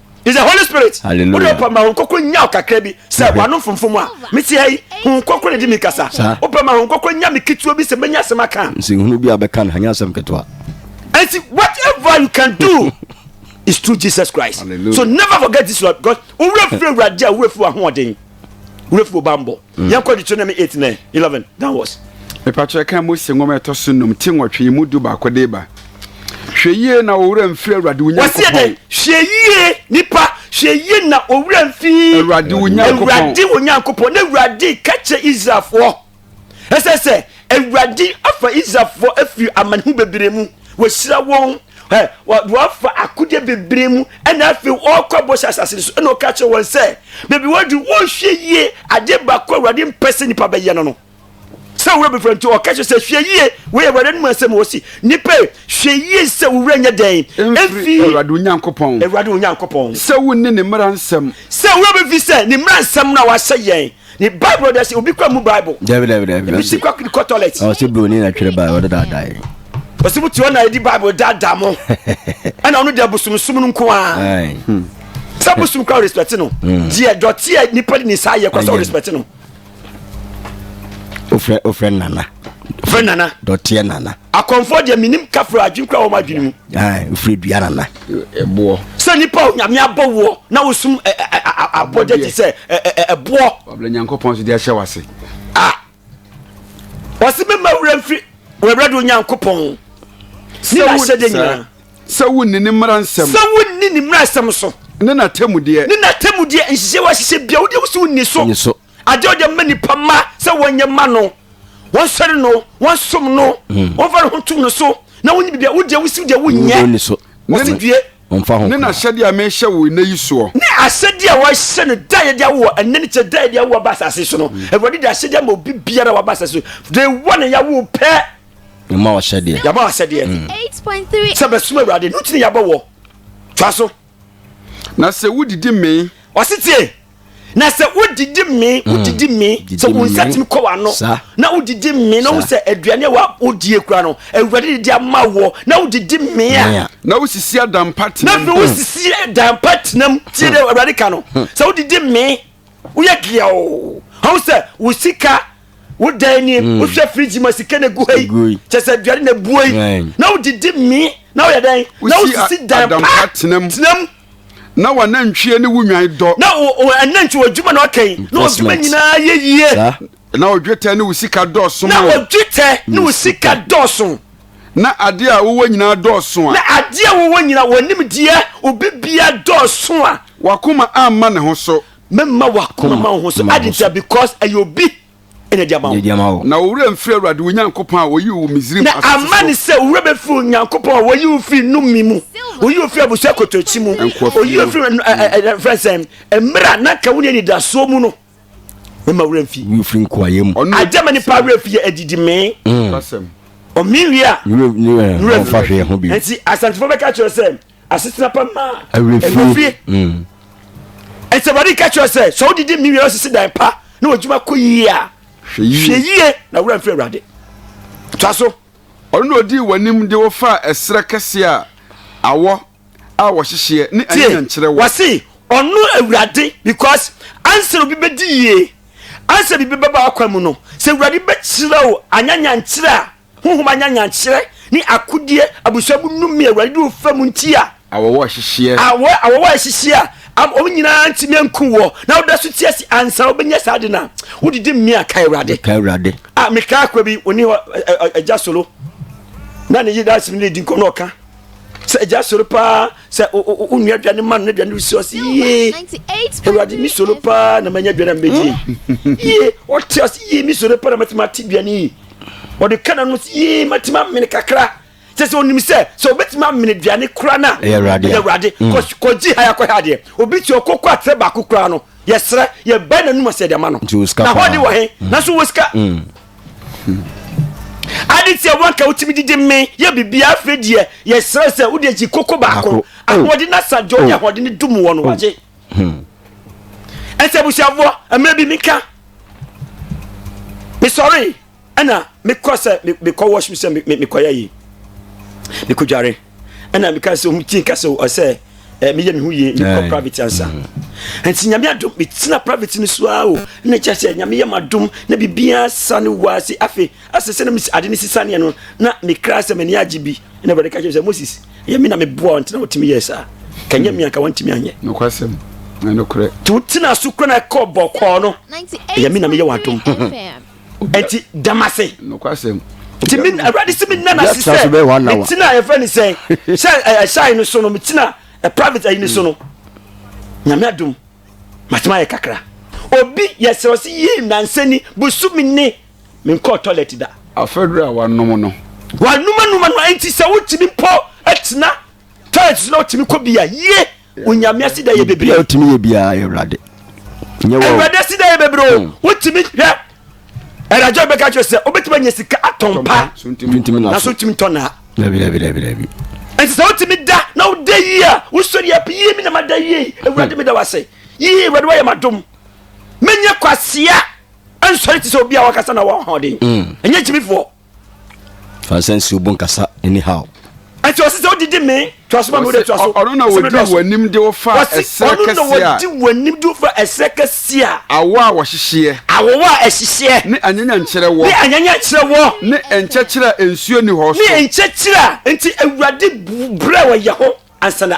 is the holy spirit wode wopɛ ma ho nkɔkɔ nya ɔkakra bi sɛ mm-hmm. wano mfomfom a mete ha yi ho nkɔkɔ na di me kasa wopɛ ma ho nkɔkɔ nya me ketewa bi sɛ mɛnya asɛm aka nsɛnhunu bi a bɛka no anyɛ asɛm ketewa ɛnti whatever you can do is through jesus christ Hallelujah. so never forget this one because wowura firi awurade a wowura firi wahoɔden wura firi ɔba mbɔ mm. yɛn kɔ deuteronomy eight nine eleven downwards. mepatwerɛ kan mose nwoma ɛtɔ so num ti nwɔtwe yi mu du baako de ba hwɛ yie na owura mfiri awurade wo nyankopɔn wɔsi hwɛ yie nipa hwɛ yie na owura mfiri awurade wo nyankopɔn na awurade kɛkyɛ israelfoɔ ɛsɛ sɛ awurade afa israelfoɔ afiri amanehunu bebree mu wɔahyira wɔn wɔafa akodeɛ bebree mu ɛna afei wɔrekɔ abɔhyɛ asase no so ɛna ɔka kyerɛ wɔn sɛ baabi wɔadu wɔnhwɛ yie adeɛ baako awurade mpɛ sɛ nnipa bɛyɛ no no sɛ wowura bɛfrɛ nti ɔka kyerɛ sɛ hwɛ yie wei awurade no mu asɛm wɔ si nnipa hwɛ yie sɛ wowura nyɛ dɛn ɛmfiri awurade onyankopɔn awurade onyankopɔn sɛ wonni ne mmara nsɛm sɛ wowura bɛfi sɛ ne mmara nsɛm no a wahyɛ yɛn ne bible dɛ sɛ obi kɔ mu bible dabi dabi dabi ebi si kɔ kɔ toilet ɔsi broni na twere bible ɔde daadaa yi ɔsi mu tiwɔ na edi bible daadaa mo ɛna ɔno deɛ bosomsom no nko ara hmm. sɛ bosom kora respect no hmm. deɛ dɔte a nipa de ne nsa ayɛ kora sɛ respect no ofrɛ ofrɛ nana ofrɛ nana dɔteɛ nana akɔnfɔ deɛ menim kafra adwene kora wɔn adwene mu ofrɛ dua nana boɔ. Sɛ nipa a Onyame abɔ woɔ na wosum abɔdeɛ te sɛ ɛboɔ. Wabla Nyankopɔn so de ahyɛ wase. A ɔsi mi ma wura nfiri wura do Nyankopɔn. Sɛ wo sɛ de nyinaa. Sɛ wo nni ne mmara nsɛm. Sɛ wo nni ne mmara nsɛm so. Ne na tɛmudeɛ. Ne na tɛmudeɛ nhyehyɛ wa hyehyɛ bia wo de wosi wo nni so. Adeɛ ɔde ma nipa mma sɛ wɔnyɛ mma no, wɔnsɔre no, wɔnsom no, hmm. wɔmfa ne ho ntom no so, na wonyi biribi a wodeɛ wosi deɛ wonyɛ. Wɔsi due. Ne na ahyɛdeɛ a mehyɛ wo nnɛ yi soɔ. Ne ahyɛdeɛ a wɔahyɛ no da yɛde awoɔ ɛnɛ ne kyɛ da yɛde awoɔ aba asase so no. Hmm. Awurade de ahyɛdeɛ ama obi biara waba asase so. De wɔ ne yawo pɛ. Yɛma wahyɛdeɛ. Yɛma wahyɛdeɛ. Hmm. Sɛ bɛsoma Awurade, no tini yɛabɔ wɔ. Twa so. Na sɛ wodidi mee. Ɔse tie, na sɛ wodidi mee, mm. wodidi mee, sɛ wo nsa tumi kɔ w'ano, na wodidi mee, na wo sɛ aduane a wodie kura no, awurade de di ama woɔ, na wodidi mee a. Na wosisi adampa tena mu. Na afei wosisi adampa tena mu, tie dɛ awurade ka no, sɛ wodidi mee, woyɛ deɛ o, ɔho sɛ wo sika wodan nie mm. wohwɛ firigyi ma sika na egu ha yi kyɛ sɛ aduane na ebuo yi na wodidi mi na woyɛ dɛn na wosisi dan pa tenam na wɔn anantwie ne wo nwan dɔ na wɔn anantwie wɔ adwuma na ɔka yi na ɔdwuma nyinaa yɛ yie na odwetɛ ne wo sika dɔɔso na odwetɛ ne wo sika dɔɔso na adeɛ a wowɔ nyinaa dɔɔso a na adeɛ a wowɔ nyinaa wɔnim deɛ obi bia dɔɔso a wakoma amma ne ho so mɛma wakoma ma wo ho so ade ntia because ɛyɛ obi ɛna de ama wo na owura mfiri awurade wo nyankopɔn a ɔyi wo misrim na ama ne sɛ owura bɛfiri wo nyankopɔn a wɔyi wo firi nomi mu ɔyi wo firi abusua kotokyi mu ɔyi wo firi frɛ sɛ mmerɛ a na ka wo ne anidasoɔ mu no mɛma wura mfi mfiri nkoayɛ mu agyama nipa werɛ fiyɛ adidi mee mm. ɔme wie a nti asantefo bɛka kyerɛ sɛ asetena pa ma awurafie ɛnti awurade ka kyerɛ sɛ sɛ wodidi me wiara sisi dan pa na wadwuma kɔ yie a hwɛ yie na wura mfiri awurade twa so ɔno na ɔdii w'anim de wɔfaa ɛserɛ kɛseɛ a awɔ a wɔhyehyeɛ ne anya nkyerɛ wɔ wɔse ɔno awurade because ansa obi bɛdi yie ansa biribi bɛba akwa mu no sɛ awurade bɛkyerɛ wo anyanyankyerɛ a Honhom anyanyankyerɛ ne akodie abusua mu nnome a Awurade de wɔn fa mu nti a. Awɔwɔ hyehyeɛ. Awɔ, awɔwɔ a ɛhyehyeɛ a ama wɔn nyinaa ntumi anku wɔ, na woda so te ase ansa wobɛnya saa ade no a, wodidi mmea a, kae Awurade. Kae Awurade. A mekaa akwa bi, ɔni hɔ, Agya Solo, na ne yere Dasim ne di nkɔm na ɔka sɛ Agya Solo paa sɛ wonua aduane ma no na aduane resi ɔse yie Awurade me Solo paa na manya aduane a mɛdie yie ɔte ɔse yie me Solo paa na mɛtumi ate aduane yi ɔde ka n'ano sɛ yee matumi amene kakra kyɛ sɛ ɔnim sɛ sɛ ɔbɛtumi amene aduane kora no a ɛyɛ awurade mm. kɔgye ha yɛakɔ ha adeɛ obi te ɔkɔkɔ atrɛ baako koraa no yɛserɛ yɛbae n'anom asɛ de ama no na hɔ de wɔ he mm. nanso wɔ sika mm. ade tiɛ wanka wotumi didi me yɛ biribiaa afei deɛ yɛserɛ sɛ wode agyi koko baako oh. ahoɔden no asa deɛ ɔne oh. ahoɔden no dum wɔ no oh. wagye hmm. ɛsɛ abusuafoɔ mmerɛ bi menka mesɔree ɛna mekɔ sɛ mekɔ washroom sɛ mekɔyɛ yi mekɔdware ɛna meka sɛ ɔmu tii ka sɛ ɔsɛ eh, meyɛ me ho yie mekɔ private ansa mm-hmm. nti nyame adom metena private no so ara o na kyɛ sɛ nyame yɛ madom na biribiaa sa no wɔ ase afei asɛ sɛ na ade no sisaneɛ no na mekra sɛ m'ani agye bi na awurade ka kyerɛ sɛ moses Ɛyɛ me na meboa wo nti na wotumi yɛɛ saa. Ka ɛnyɛ me a, nka wantumi anyɛ. Nokwasɛm, na nokorɛ. Nti wotena so kura na ɛkɔ bɔkɔɔ no. Ɛyɛ me na meyɛ w'adom. Nti dam ase. Nokwasɛm. Nti me awurade si me nna na si sɛ metina yɛfɛ ne sɛ sɛ ɛhyɛn no so no metina private ayi no so no nyame adom matema yɛ kakra obi yɛsrɛ ɔse yii nansani busumi ne menkɔɔ toilet da. Afaduru a wanom no. Wanom anum ano nti sɛ wotumi mpo atena toilet so na wotumi kɔ bi a yie onyame asi da yɛ bebree. Yɛ otumi yɛ biara yɛ awurade. Nyɛ wɔ. Awurade asi da yɛ bebree o hmm. wotumi hwɛ ɛdajɔ bɛka kyerɛ sɛ wobɛtumi anya sika atɔn pa na so wotumi tɔ naa. Dabi dabi dabi dabi. Nti sɛ wotumi da na woda yie a wosɔre yɛ pɛ yie mi na ma da yie awurade mi da wase yie awurade wayɛ ma dom menyɛ kwasia. ɛnsɔre te sɛ obi a wakasa na wɔ ahoɔden mm. ɛnyɛ gyimifoɔ fansɛ nsi obo nkasa anyhow ɛti ɔsi sɛ ɔdidi mi tuaso ma mi wode tuaso ɔno na wɔdi w'anim de wofa ɛsɛ kɛseɛ a ɔno na wɔdi w'anim de wofa ɛsɛ kɛseɛ a awo a wɔhyehyeɛ awo a ɛhyehyeɛ ne anyanya nkyerɛ wɔ ne anyanya nkyerɛ wɔ ne nkyɛkyerɛ nsuo ni hɔ so ne nkyɛkyerɛ nti awurade brɛ wɔ yɛ ho ansa na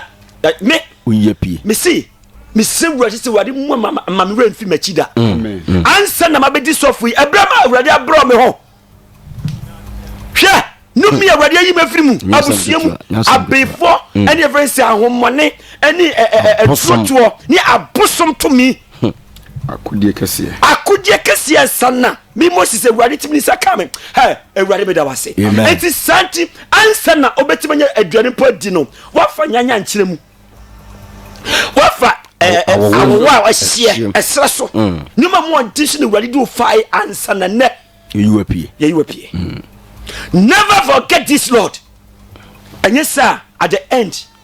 me oyɛ pie mesi mesrɛ awurade sɛ awurade mu ma me werɛ mfi m'akyi da ansa na mabɛdi sɔfo yi ɛberɛ ma awurade abrɛ me ho hwɛ nomi awurade ayi ma firi mu abusua mu abefoɔ hmm. ɛne ɛfrɛ sɛ ahommɔne ɛne atuotoɔ ne abosom tumi hmm. akodeɛ kɛseɛ akodeɛ kɛseɛ nsa na me moses awurade tumi ne nsa ka me hɛ awurade meda wo ase enti saa nti ansa na wobɛtumi anya aduane mpo adi no woafa nyanya nkyerɛ mu woafa eh, eh, awowa a ɛhyeɛ ɛserɛ so mm. nneɛma mu ɔnte so ne awurade de wofae ansa na nnɛ yɛyiwa pie yɛyiwa pie mm. never forget this lord ɛnyɛ saa at the end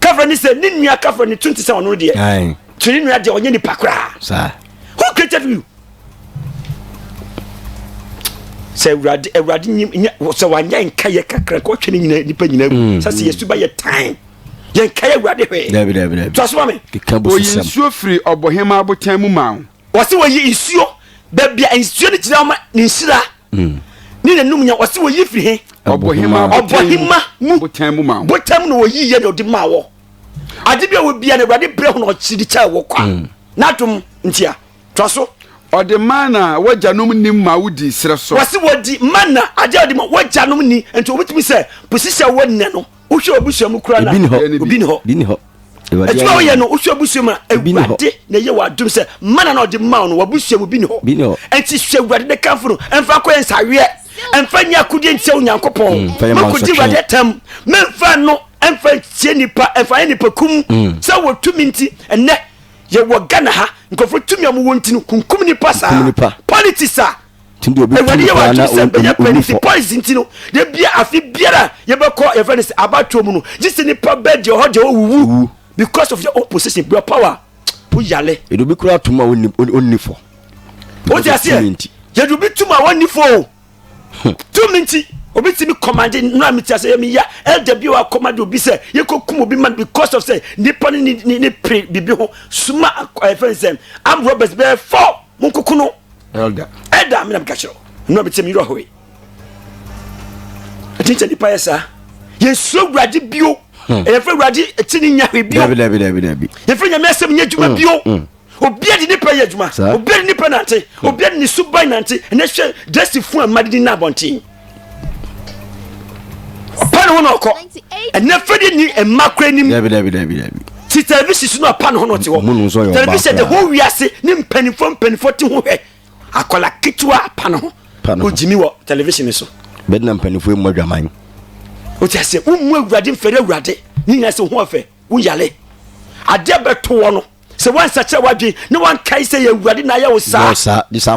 kafra ne sɛ ne nua kafra ne tun te sɛ ɔno deɛ kyerɛ ne nua deɛ ɔnyɛ nipa koraa who created you sɛ awurade awurade nyɛ sɛ wanyɛ nkaeɛ kakra kɔ twɛ ne nyina nipa nyina mu mm, sɛ sɛ mm. yɛsu ba yɛ tan yɛnkaeɛ awurade hwɛ toasoa me ɔyi nsuo firi ɔbohema abotan mu ma wo wɔsi wɔyi nsuo baabi a nsuo no gyina ma ne nhyira hmm. ne nanum nya wɔsi wɔyi firi he ɔbɔhema ɔbɔhema mu botan mu ma botam na wɔyi yɛ na ɔde ma wɔ ade bi a wɔbia na awurade brɛ ho na ɔkyiri kyɛ wɔ kwa hmm. n'adom ntia tɔ so ɔde mana a wagyanom ni ma wodi serɛ so wɔsi wɔdi mana agya ɔde ma wagyanom ni nti wɔbɛtumi sɛ posisi a wɔnnɛ no wohwɛ ɔbusua mu kura na obi ni hɔ adwuma woyɛ no wohwɛ abusua mu a awurade na ɛyɛ w'adom sɛ mana na ɔde ma wo no w'abusua mu bi ne hɔ ɛnti sɛ awurade ne kamfo no ɛmfa kɔ yɛ nsaweɛ ɛmfa nyɛ akodeɛ ntia onyankopɔn mm, makɔgye awurade atam memfa no ɛmfa ntie nipa ɛmfa yɛ nipa kum mm. sɛ wɔtumi nti ɛnɛ yɛwɔ ghana ha nkurɔfoɔ tumi a mowɔ nti no kunkum nipa saa politics a awurade yɛ w'adwene sɛ bɛyɛ panyin ti points nti no de bia afe biara yɛbɛkɔ yɛfrɛ no sɛ abatoɔ mu no gye sɛ nipa bɛ deɛ ɔhɔ deɛ ɔwuwu because of your own position your power po yale. yɛde obi kura atum a ɔnni fɔ. o ti aseɛ yɛde obi tum a ɔnni fɔ o hmm. tum nti obi ti mi kɔmande nura mi ti aseɛ mi ya ɛda bi wa kɔmande obi sɛ yɛ kɔ kum obi man because of sɛ nipa ne ne ne pere bibi ho suma ɛfɛn sɛ am robbers bɛɛ fɔ mo nkoko no. Elder. Elder mi na mi ka kyerɛ o. Nnura mi ti mi yiri ɔhɔ yi. Ɛti sɛ nipa yɛ saa. Yɛ nsuro wurade bio. Hmm. Yɛ fɛ wurade ti ni nya hwɛ bio. Dabi dabi dabi dabi. Yɛ fɛ nyame asɛm nyɛ adwuma hmm. bio. Hmm. Obiara de nipa yɛ adwuma. Obiara de nipa nante. Obiara de ne suban nante. Ɛnɛ hwɛ dɛsi fun a mmadidi na abɔnten. ɔpa ne ho na ɔkɔ ɛnɛ fɛde ni mma kora nim ti television so na ɔpa ne ho na ɔte hɔ television de ho wiase ne mpanimfoɔ mpanimfoɔ te ho hwɛ akɔla ketewa pa ne ho ɔgyimi wɔ television so bɛde na mpanimfoɔ mmɔ adwaman ɔti aseɛ wommu awurade mfɛre awurade ne nyina sɛ ho ɔfɛ woyale adeɛ bɛtoɔ no sɛ woansakyera w'adwene na woankae sɛ yɛ awurade na ayɛ wo saa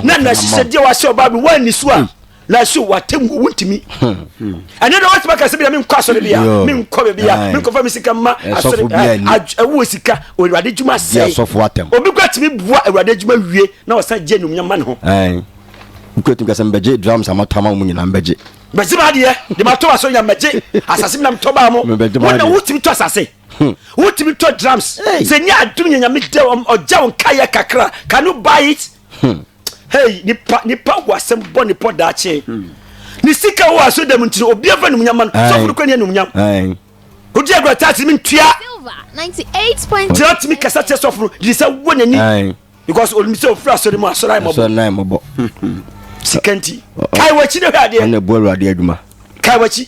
na nahyehyɛdeɛ wahyɛ ɔbaa bi woanni so a hmm. nanso w'atammuo wontumi hmm. ɛnɛ dɛ woatumi aka sɛ bia menkɔ asɔre bia menkɔ bebia menkɔfa me sika ma asɔre ɛwoɔ sika awurade adwuma sɛe obi kora tumi boa awurade adwuma wie na ɔsan gye anumnyam ma ne ho wokɔtumi ka sɛ mbɛgye drums amatama wo mu nyinaa mbɛgye bɛgye ma adeɛ de matɔ asɔre nya mbɛgye asase menam tɔ baa mo wona wotumi tɔ asase Hmm. wotumi tɔ drums sɛ nyɛ adom nyɛ nyame dɛ ɔgya wo nkayɛ kakra can you buy it hmm. hey nipa nipa wɔ asɛm bɔ ne pɔ daakye hmm. ne sika wɔ aso dɛm nti no obi afa nomnyama no sɔfo no kɔ ne anomnyam wodi agorɔ taase me ntua gyina tumi kasa kyɛ sɔfo no gyiri sɛ wɔ n'ani because onim sɛ ofiri asɔre mu asɔre ayɛ mɔbɔ sika nti kae wakyi ne hwɛ adeɛ kae wakyi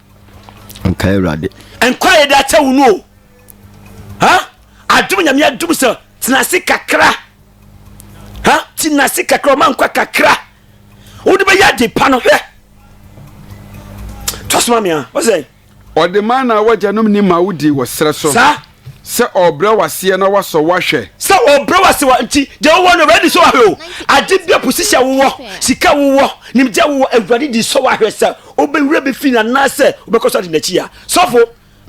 nkae awurade. nkwa a yɛde akyɛ wo no o ha adom nyame adom sɛ tenase kakra ha tenase kakra ɔma nkwa kakra wode bɛyɛ ade pa no hwɛ tɔsoma mea wɔsɛ ɔde ma na wɔgyanom ni ma wodi wɔ serɛ so saa Sɛ ɔɔbrɛ wo aseɛ na wasɔ wo ahwɛ. Sɛ ɔɔbrɛ wo aseɛ wa nti deɛ wowɔ no awurade di sɔ wo ahwɛ o ade bia position wowɔ sika wowɔ nimdeɛ wowɔ awurade di sɔ wo ahwɛ sɛ wobɛwura bi fi no anaasɛ wobɛkɔ so adi nakyi ya sɔfo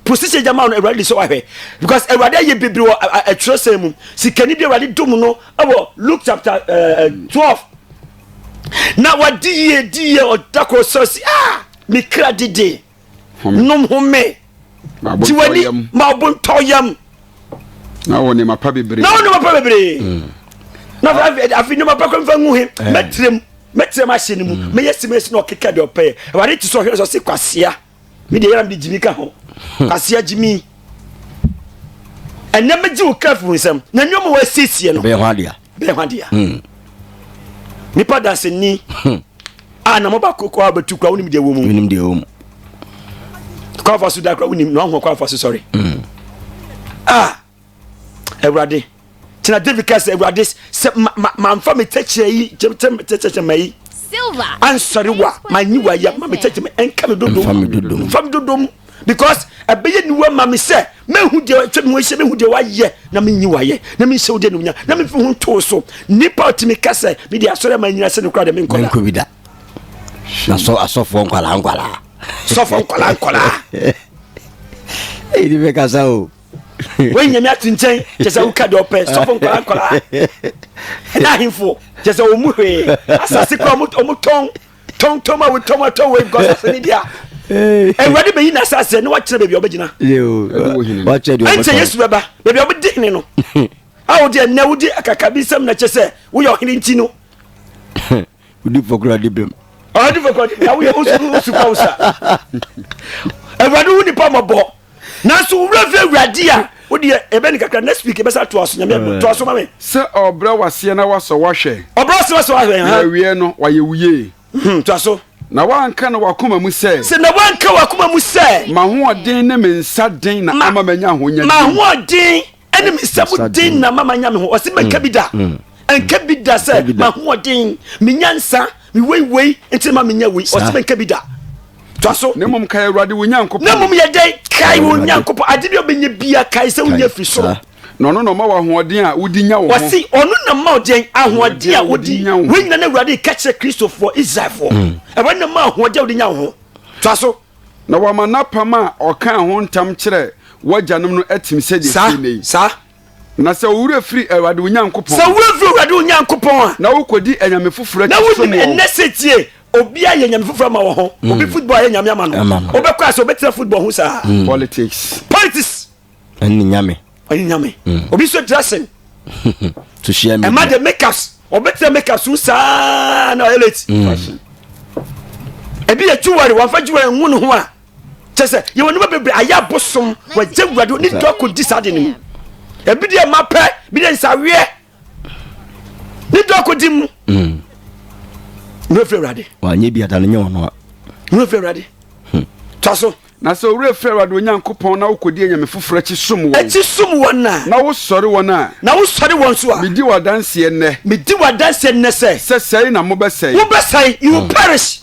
position gya ma no awurade di sɔ wo ahwɛ because awurade ayɛ bebiri wɔ atwerɛsɛn mu sikani bi awurade dom no ɛwɔ Luke chapter uh, eh, 12 eh, na wadi yie di yie ɔda koro sɔrɔ si ah mekra dede home. Nom home. Gye w'ani ma ɔbontɔ yam. Na wɔ nneɛma pa bebree. Na wɔ nneɛma pa bebree. Hmm. Na afei nneɛma pa kɔ nfa ngu he eh. mɛtirem mɛtirem ahyɛ ne mu hmm. mɛyɛ simesi na ɔkeka deɛ ɔpɛyɛ awurade ti sɛ ɔhwɛ sɛ ɔse kwasea mi deɛ yɛra mi de gyimi ka ho hmm. kwasea gyimi ɛnɛ mɛgye wo kafo nsɛm na nneɛma wɔasiesie no. ɛbɛyɛ ho adeɛ. bɛn hɔ adeɛ hmm. nipa danseni hmm. a na mo ba koko a bɛtu kura wonim deɛ wɔ mu wonim deɛ wɔ mu kwafa so da kura wonim na wahu kwafa so sɔre hmm. a awurade tena david kasa awurade sɛ manfa me tɛkyerɛ yi tɛkyerɛ ma yi ansɔre wa manyi wa ya ma me tɛkyerɛ ma ɛnka me dodom nfa me dodom because ɛbɛyɛ niwa ma me sɛ mehu deɛ atwa me ho ahyia mehu deɛ wayɛ na menyi wayɛ na menhyɛ wo deɛ ne wonya na memfi ho ntoo so nnipa ɔtumi ka sɛ mede asɔre ma nyina sɛ no kora deɛ menkɔ da bi da na sɔ asɔfoɔ nkwalaa nkwalaa sɔfoɔ nkwalaa nkwalaa ɛdi bɛkasa o wei nyame ate nkyɛn kyɛ sɛ woka deɛ ɔpɛ sɔfo nkwara nkwara ɛna ahemfo kyɛ sɛ ɔmu hwee asase kora ɔmotɔn tɔntɔn a wotɔn atɔ wɔ because asɛm ni bia awurade bɛyi na asase ne wakyerɛ baabi a ɔbɛgyina ɛnkyɛ yesu bɛba baabi a ɔbɛdi hene no a wode ɛnɛ wode akaka bi nsɛm na kyɛ sɛ woyɛ ɔhene nti no wodi fɔkora de bɛm ɔde fɔkora de bɛm woyɛ wosu kwa wo sa awurade wo nipa mɔbɔ nanso wo werɛ fi awurade a wodeɛ ɛbɛ ne kakra next week ɛbɛsa toa so nyame ɛbɛ toa so ma me sɛ ɔbrɛ waseɛ na wasɔ wahwɛ ɔbrɛ waseɛ wasɔ wahwɛ na awie no wayɛ wo yie hmm, toa so na wanka no wakoma mu sɛ sɛ na wanka wakoma mu sɛ mahoɔden ne me nsa den na ama manya ahonya mahoɔden ɛne me sɛ mo den na mama nya me ho ɔse mɛnka mm. bi da mm. ɛnka bi da sɛ mahoɔden menya nsa meweiwei nti ma menya wei ɔse mɛnka bi da twa so na mmom kae awurade wo nyankopɔn na mmom yɛdɛ kae wo nyankopɔn ade bi a wobɛnya bia kae sɛ wonya firi soro na ɔno na ɔma wɔ ahoɔden a wodi nya wo ho ɔse ɔno na ma ɔdeɛn ahoɔden a wodi nya wo ho woanyina no awurade ka kyerɛ kristofoɔ israelfoɔ mm. ɛwɔ na ma ahoɔden a wodi nya wo ho twa so Na wama n'apam a ɔkaa ho ntam kyerɛɛ w'agyanom no atim sɛdeɛ ɛteɛ nnɛ yi. Saa, saa. Na sɛ wo werɛ firi Awurade wo Nyankopɔn. Sɛ wo werɛ firi Awurade wo Nyankopɔn a. Na wokɔdi anyame foforɔ akyi som wɔn. Na wonim nnɛ sɛ tie, obiara yɛ nyame foforɔ ama wɔn ho. Obi football ayɛ nyame ama no. Wobɛkɔ ase, wobɛtena football ho saa. Politics. Politics. ɛne nyame ɛne nyame mm. obi so dressing to share me ɛma de makeups ɔbɛtena makeups mu saa na ɔyɛ late mm. ebi yɛ jewelry wafa jewelry nhu ne ho a kyɛ sɛ yɛwɔ nneɛma bebree ayɛ abosom wɔgye wurade ne dɔ kɔdi saa de no mu ebi deɛ ma pɛ bi deɛ nsaweɛ ne dɔ kɔdi mu mm. ne wafiri awurade wanyɛ bi ada no nyɛ ɔno a ne wafiri awurade hmm. twa so Na sɛ wo werɛ firi Awurade wo Nyankopɔn na wokɔdi anyame foforɔ akyi som wɔn. Akyi som wɔn a. Na wosɔre wɔn a. Na wosɔre wɔn nso a. Medi wo adanseɛ nnɛ. Medi wo adanseɛ nnɛ sɛ. Sɛ sɛe na mobɛsɛe. Wobɛsɛe, you will perish.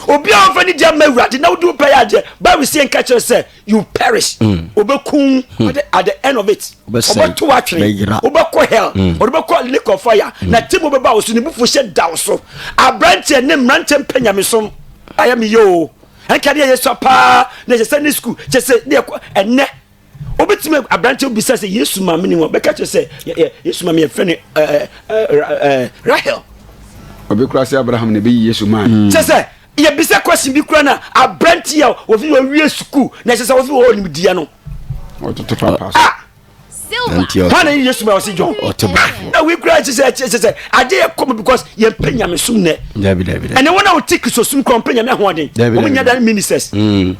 Obi a ɔmfa ne deɛ mma Awurade na wode wo pɛ yɛ adeɛ, Bible sɛ yɛnka kyerɛ sɛ, you will perish. Wɔbɛkum wo at the end of it. Wɔbɛto wo atwene. Wobɛkɔ hell. Wɔde bɛkɔ lake of fire. Na temu bɛba wo so, ne bufuo hyɛ da wo so. Aberanteɛ ne mmeranteɛ mpɛ nyamesom. Ayɛ me yie o. ɛnka deɛ yɛ sua paa na ɛsɛ sɛ ne sukuu kyɛ sɛ deɛ kɔ ɛnɛ wobɛtumi aberante bisa sɛ yesu ma me ne mu bɛka kyerɛ sɛ yesu ma me yɛfrɛ ne rahel ɔbɛkura sɛ abraham na ɛbɛyi yesu maa mm. kyɛ sɛ yɛbisa kwasi bi kura no a aberante a wɔfi wɔwie sukuu na ɛsɛ sɛ wɔfi wɔwɔ nimdeɛ no ɔtoto papa so ah! hwan na yesu ma ɔsi john na wei kura ɛkyɛ sɛ ɛkyɛ sɛ agye yɛ kɔm because yɛn pɛ nyame sum nɛ ɛnɛ wɔn a wɔte kristu sum kura wɔn pɛ nyame ahoɔden wɔn nyɛ dan ministers mm.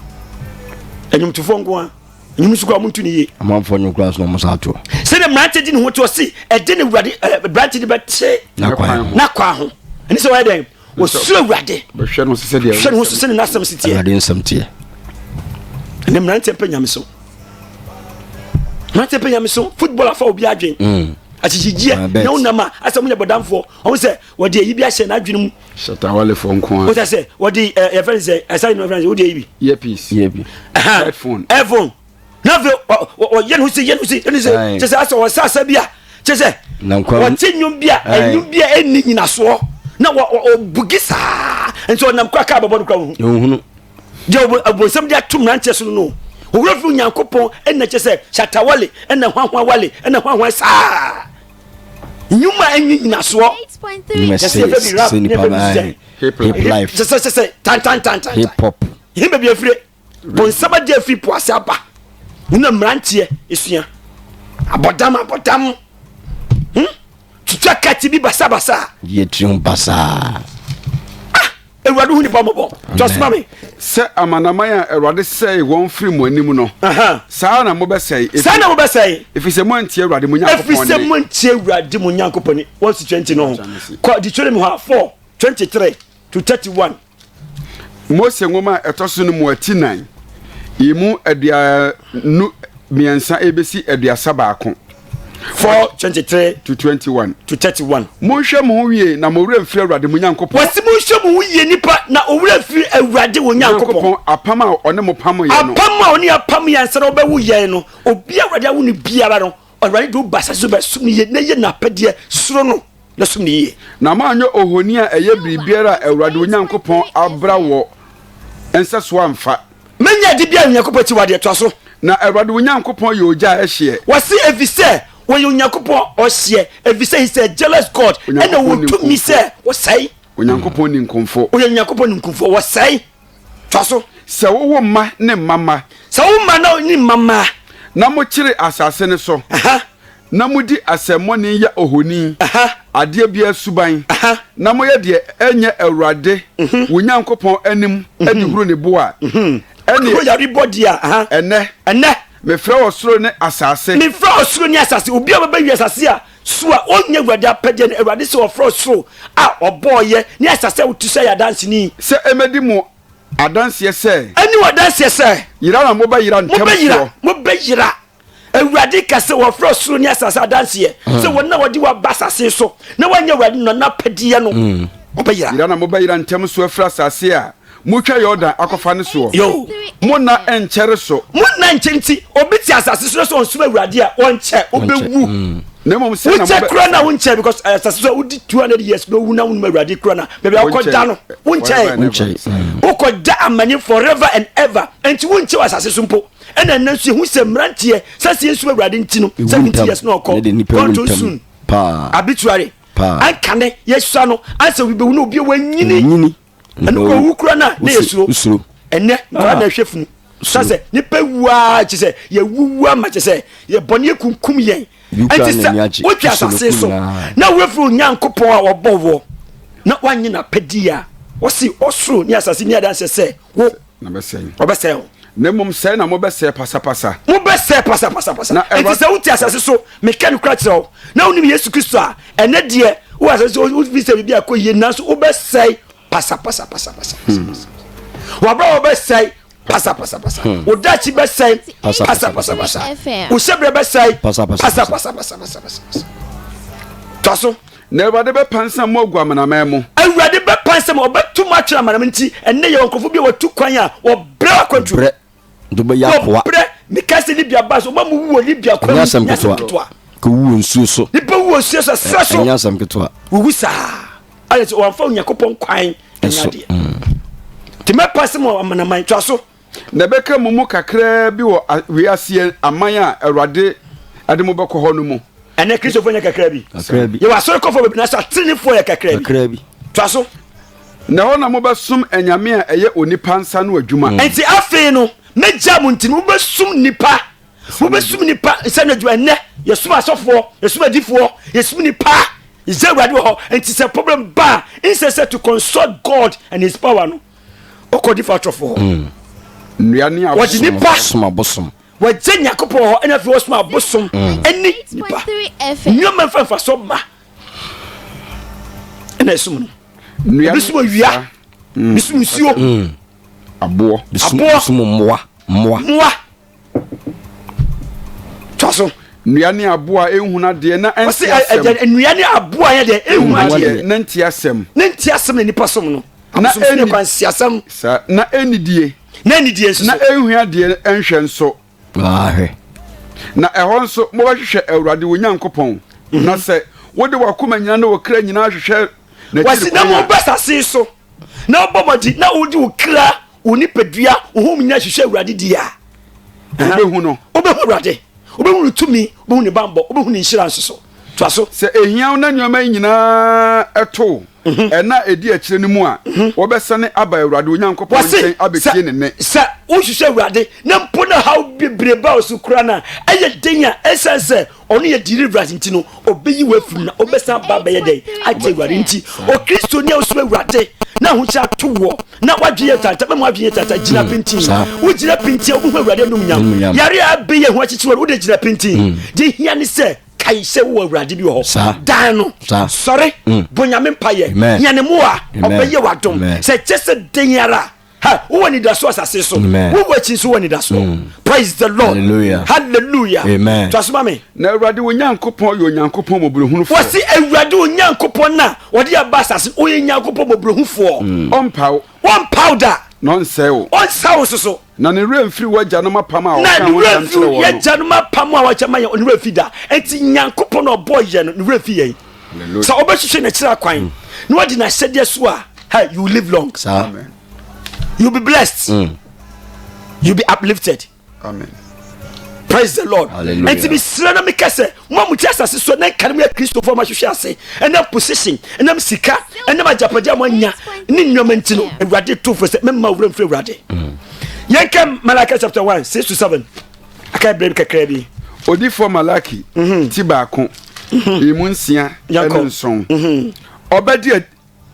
ɛnyomtofo nkoa ɛnyom nso kura wɔn tu ne yie amanfoɔ nyom kura nso na wɔn sa ato sɛdeɛ mmerante di ne ho te ɔsi ɛde ne wurade ɛɛ mmerante de bɛ te n'akwan ho ɛne sɛ wɔyɛ dɛn wɔsuro awurade hwɛ no ho so sɛne n'asɛm si teɛ awurade nsɛm teɛ ɛnɛ mmeranteɛ mpɛ nyame so mmeranteɛ mpɛ nyame so football afa obi adwen mm. akyekyedeɛ ah, na wonam a asɛ monyɛ bɔdamfoɔ ɔmo sɛ wɔde ayi bi ahyɛ n'adwene mu sɛtawalefoɔ nko a wosɛ sɛ wɔde yɛfrɛ no sɛ ɛsɛ no frɛ no sɛ wode ayi bi earpiece earphone earphone na afei ɔyɛ no sɛ yɛ no sɛ yɛ no sɛ kyɛ sɛ asɛ ɔsɛ asɛ bi a kyɛ sɛ ɔte nnwom bi a nnwom bi a ɛnni nyinasoɔ na ɔbugi saa nti ɔnam kɔ aka abɛbɔ no kora wohunu deɛ abonsɛm de ato mmeranteɛ so no no owura fi onyankopɔn ɛna kyɛ sɛ shatawale ɛna hwanhwan wale ɛna hwanhwan saa nnwuma ɛnwi nyinasoɔ sɛ sɛ tantantantan hip hop he baabi afire Wɔn nsa bɛgye afi po ase aba. Wo na mmeranteɛ esua. Abɔdam abɔdam. Hmm? Twitwa kɛte bi basabasa. Yɛ tirim basaa. Ah! Awurade hu nipa mmɔbɔ. Tɔsoma me. Sɛ amanaman a Awurade sɛe wɔn firi mo anim no. Saa na mobɛsɛe. Saa na mobɛsɛe. Ɛfiri sɛ moantie Awurade mo Nyankopɔn ne. Ɛfiri sɛ moantie Awurade mo Nyankopɔn ne. Wɔn si 20 no ho. Kɔ Deuteronomy hɔ a 4 23 to 31. Mose nwoma a ɛtɔ so no mu ati nan, emu aduonu mmiɛnsa ebesi aduasa baako. Four twenty three to twenty one to thirty one. Monhwɛ mo ho yie na mo werɛ mfiri Awurade mo Nyankopɔn. Wɔsi monhwɛ mo ho yie nipa na owurɛ mfiri Awurade wɔn Nyankopɔn. Apam a ɔne mo pam yɛ no. Apam a ɔne apam yɛ ansa na ɔbɛwo yɛn no, obi a Awurade awo no biara no. Awurade de wo ba asase so bɛsom no yie na yɛ n'apɛdeɛ, suro no na som no yie. Na moanyɛ ohoni a ɛyɛ biribiara a Awurade wo Nyankopɔn abra wɔ nsa so amfa. Mɛnyɛ ade biara a Onyankopɔn akyiwadeɛ toa so. Na Awurade wo Nyankopɔn yɛ ogya a ɛhyeɛ. Wɔse ɛfiri sɛ wɔyɛ Onyankopɔn a ɔhyeɛ, ɛfiri sɛ he is a jealous God, ɛna ɔwɔ tumi sɛ ɔsɛe. Onyankopɔn ninkumfoɔ. Ɔyɛ Onyankopɔn ninkumfoɔ, ɔsɛe. Fa so. Sɛ wo wo mma ne mma mma. Sɛ wo mma na ne mma mma. Na mo kyere asase no so. Aha. Na mo di asɛmmɔne yɛ ohoni. Aha. Adeɛ biara suban. Aha. Na mo yɛ deɛ ɛnyɛ Awurade. Mhm. Wo Nyankopɔn anim. Mhm. De huru ne bo a. Mhm. Ɛneɛ. Kuro yare bɔ di a. Aha. Ɛnɛ. Ɛnɛ. Mefrɛ ɔsoro ne asase. Mefrɛ ɔsoro ne asase. Obi a ɔbɛbɛ wi asase a. So a ɔnnyɛ Awurade apɛdeɛ no? Awurade sɛ ɔfrɛ ɔsoro a ɔbɔɔeɛ ne asase a wotu sɛ yɛ adanseni. Sɛ ɛmɛdi mo adanseɛ sɛ. Ɛne wo adanseɛ sɛ. Yera na mobɛyera ntɛm soɔ. Mobɛyera. Awurade ka sɛ wɔfrɛ ɔsoro ne asase adanseɛ sɛ wɔn na wɔde wɔaba asase so na wɔanyɛ Awurade no n'apɛdeɛ no, wɔbɛyera. Yera na mobɛyera ntɛm soɔ afiri asase a. Motwa Yordan akɔfa ne soɔ. Yo. Mo nna nkyɛre so. Mo nna nkyɛre nti, obi te asase so sɛ ɔnsom Awurade a, ɔnkyɛ, ɔbɛwu. Mm. Na mmom sɛ na wonkyɛ kura na wonkyɛ because eh, asase so a wodi 200 years na owu na wonim Awurade kura na baabi a wokɔda no wonkyɛ. Mm. Wokɔda amane forever and ever nti wonkyɛ wɔ asase so mpo. Ɛna ɛnɛ nso yɛhu sɛ mmeranteɛ sɛ sɛ yɛnsom Awurade nti no 70 years na ɔkɔ gone too soon. Abituare. Ankane yɛsua no ansɛ obi bɛwu na obi a wanyini ɛno kɔ wu kura na ne yɛ suro suro ɛnɛ nkura na ɛhwɛ funu sasɛ nipa wua kye sɛ yɛ wuwa ma kye sɛ yɛ bɔ ne yɛ kunkum yɛn ɛnti sɛ wotwa asase so na wofiri onyankopɔn a wɔbɔ wɔ na wanyɛ n'apɛdeɛ a wɔsi ɔsoro ne asase ne adanse sɛ wo na bɛsɛe no ɔbɛsɛe wo na mmom sɛe na mobɛsɛe pasapasa mobɛsɛe pasapasapasa Na ɛnti Awurade- sɛ wote asase so meka nokora kyerɛ wo na wonim yesu kristo a ɛnɛ deɛ wo asase so wofi sɛ biribi akɔ yie nanso wobɛsɛe pasapasapasapasa wabra wɔbɛsɛe pasapasapasa Hmm. wo dakye bɛsɛe pasapasapasa wo hyɛberɛ bɛsɛe Pasapasapasa. pasapasapasapasa tɔ so Na Awurade bɛpansam mo agu amanaman mu. Awurade bɛpansam, ɔbɛto mo atwene amanaman nti, ɛnnɛ yɛwɔ nkurɔfoɔ bi a wɔatu kwan a wɔbrɛ akwantuo. Wɔbrɛ, de wɔbɛyɛ akoa. Wɔbrɛ, mekae sɛ Libya baa so, wɔma mo wu wɔ Libya kwan mu, ɛnyɛ asɛm ketewa. Kɔwu wɔ nsuo so. Nipa wu wɔ nsuo so, ɛserɛ so. Ɛnyɛ asɛm ketewa. Wɔwu saa, ayɛ sɛ wɔamfa Onyankopɔn kwan nyɛ adeɛ. Nti mɛpansam mo amanaman, toa so. Na ɛbɛka mo mu kakraa bi wɔ wiaseɛ aman a Awurade de mo bɛkɔ hɔ no mu. Ɛnɛ Kristofoɔ nyɛ kakraa bi. Yɛwɔ asɔrekɔfoɔ bebree nanso ateneneefoɔ yɛ kakraa bi. Toa so. Na ɛhɔ na mobɛsom anyame a ɛyɛ onipa nsa no adwuma. Enti afei no, mɛgyaa mo nti mobɛsom nnipa. Mobɛsom nnipa nsa no adwuma. Ɛnnɛ yɛsom asɔfoɔ, yɛsom adifoɔ, yɛsom nnipa. Yɛgya Awurade wɔ hɔ. Enti sɛ problem ba a, instead sɛ to consult God and his power no, wokɔ nifa atɔfo hɔ hmm. nnua ne abosom abosom wɔgye nyankopɔn hɔ ɛna afei wɔsom abosom hmm. ɛne nipa nneɛma mfa mfasoɔ mma ɛna ɛsom no ebi som awia hmm. ebi som nsuo aboɔ aboɔ som mmoa mmoa mmoa twa so. nnua ne aboɔ a ɛnhunu adeɛ na ɛnte asɛm. ɔsɛ nnua ne aboɔ a yɛ deɛ ɛnhunu adeɛ. na nte asɛm. na nte asɛm na nipa som no. na ɛnni kwan si asɛm. saa na ɛnnidie. na ɛnnidie nso. na ɛnhunu adeɛ nhwɛ nso. ahwɛ. na ɛhɔ nso mobɛhwehwɛ awurade wo nyankopɔn. Mhm. na sɛ wode wakoma nyina ne wo kra nyinaa hwehwɛ. wɔsi na mobɛ sase so na wobɔ mɔdi na wode wo kra. wo nipadua wo ho nyinaa hwehwɛ awurade di a wobɛhu no wobɛhu awurade wobɛhu no tumi wobɛhu ne bambɔ wobɛhu ne nhyira nso so toa so sɛ ɛhia wo na nneɛma yi nyinaa ɛto mhm. ɛna ɛdi akyirɛ no mu a mhm. wɔbɛsane aba awurade onyankopɔn nkyɛn abɛtie ne nne sɛ wohwehwɛ awurade na mpo na haw bebrebe a ɔso kora no a ɛyɛ den a ɛsiane sɛ ɔno yɛ deliverance nti no ɔbɛyi wo afiri mu na ɔbɛsan aba abɛyɛ dɛn agye awurade nti okristoni a ɔsoro awurade na ahokyerɛ ato woɔ na woadwene yɛ tata mɛma woadwene yɛ tata gyina pintin wogyina pintin a wobɛhu awurade anum nyam yare a abɛyɛ ho akyekyewa no wode gyina pintin mm. deɛ hia ne sɛ kae sɛ wowɔ awurade bi wɔ hɔ dan no sɔre mm. bonyame mpayɛ hia ne mmoa ɔbɛyɛ w'adom sɛ kyɛ sɛ den ara ha wowɔ anidasoɔ asase so wowɔ akyi nso wɔ anidasoɔ mm. praise the lord hallelujah hallelujah amen twasoma me na awurade wo nyankopɔn yɛ onyankopɔn mmɔborɔhunufoɔ wɔse awurade wo nyankopɔn no a ɔde aba asase ɔyɛ nyankopɔn mmɔborɔhufoɔ mm. ɔmpaw ɔmpaw da na ɔnsɛe wo ɔnsa wo soso na ne werɛ mfiri w'agyanom apam a ɔka ho nsɛm kyerɛ wɔn no yɛagyanom apam a wɔkyɛ ma yɛn ne werɛ mfiri da enti nyankopɔn a ɔbɔɔ yɛn no ne werɛ mfiri yɛn sɛ wobɛhwehwɛ n'akyiri akwan mm. na wadi n'ahyɛdeɛ so a hey, you live long Amen. you be blessed mm. you be uplifted Amen. praise the lord ɛnti mesrɛ na meka sɛ moa mote asase so na nka no moyɛ kristofoɔ mahwehwɛ ase ɛnam position ɛnam sika ɛnam agyapadeɛ a moanya ne nnuama nti no awurade to fo sɛ mɛma wura mfiri awurade mm. yɛnka malaka chapter 1 6 to 7 aka berɛ bi kakra bi odifoɔ malaki mhm. ti baako mhm. emu nsia ɛne nson mhm. ɔbɛdi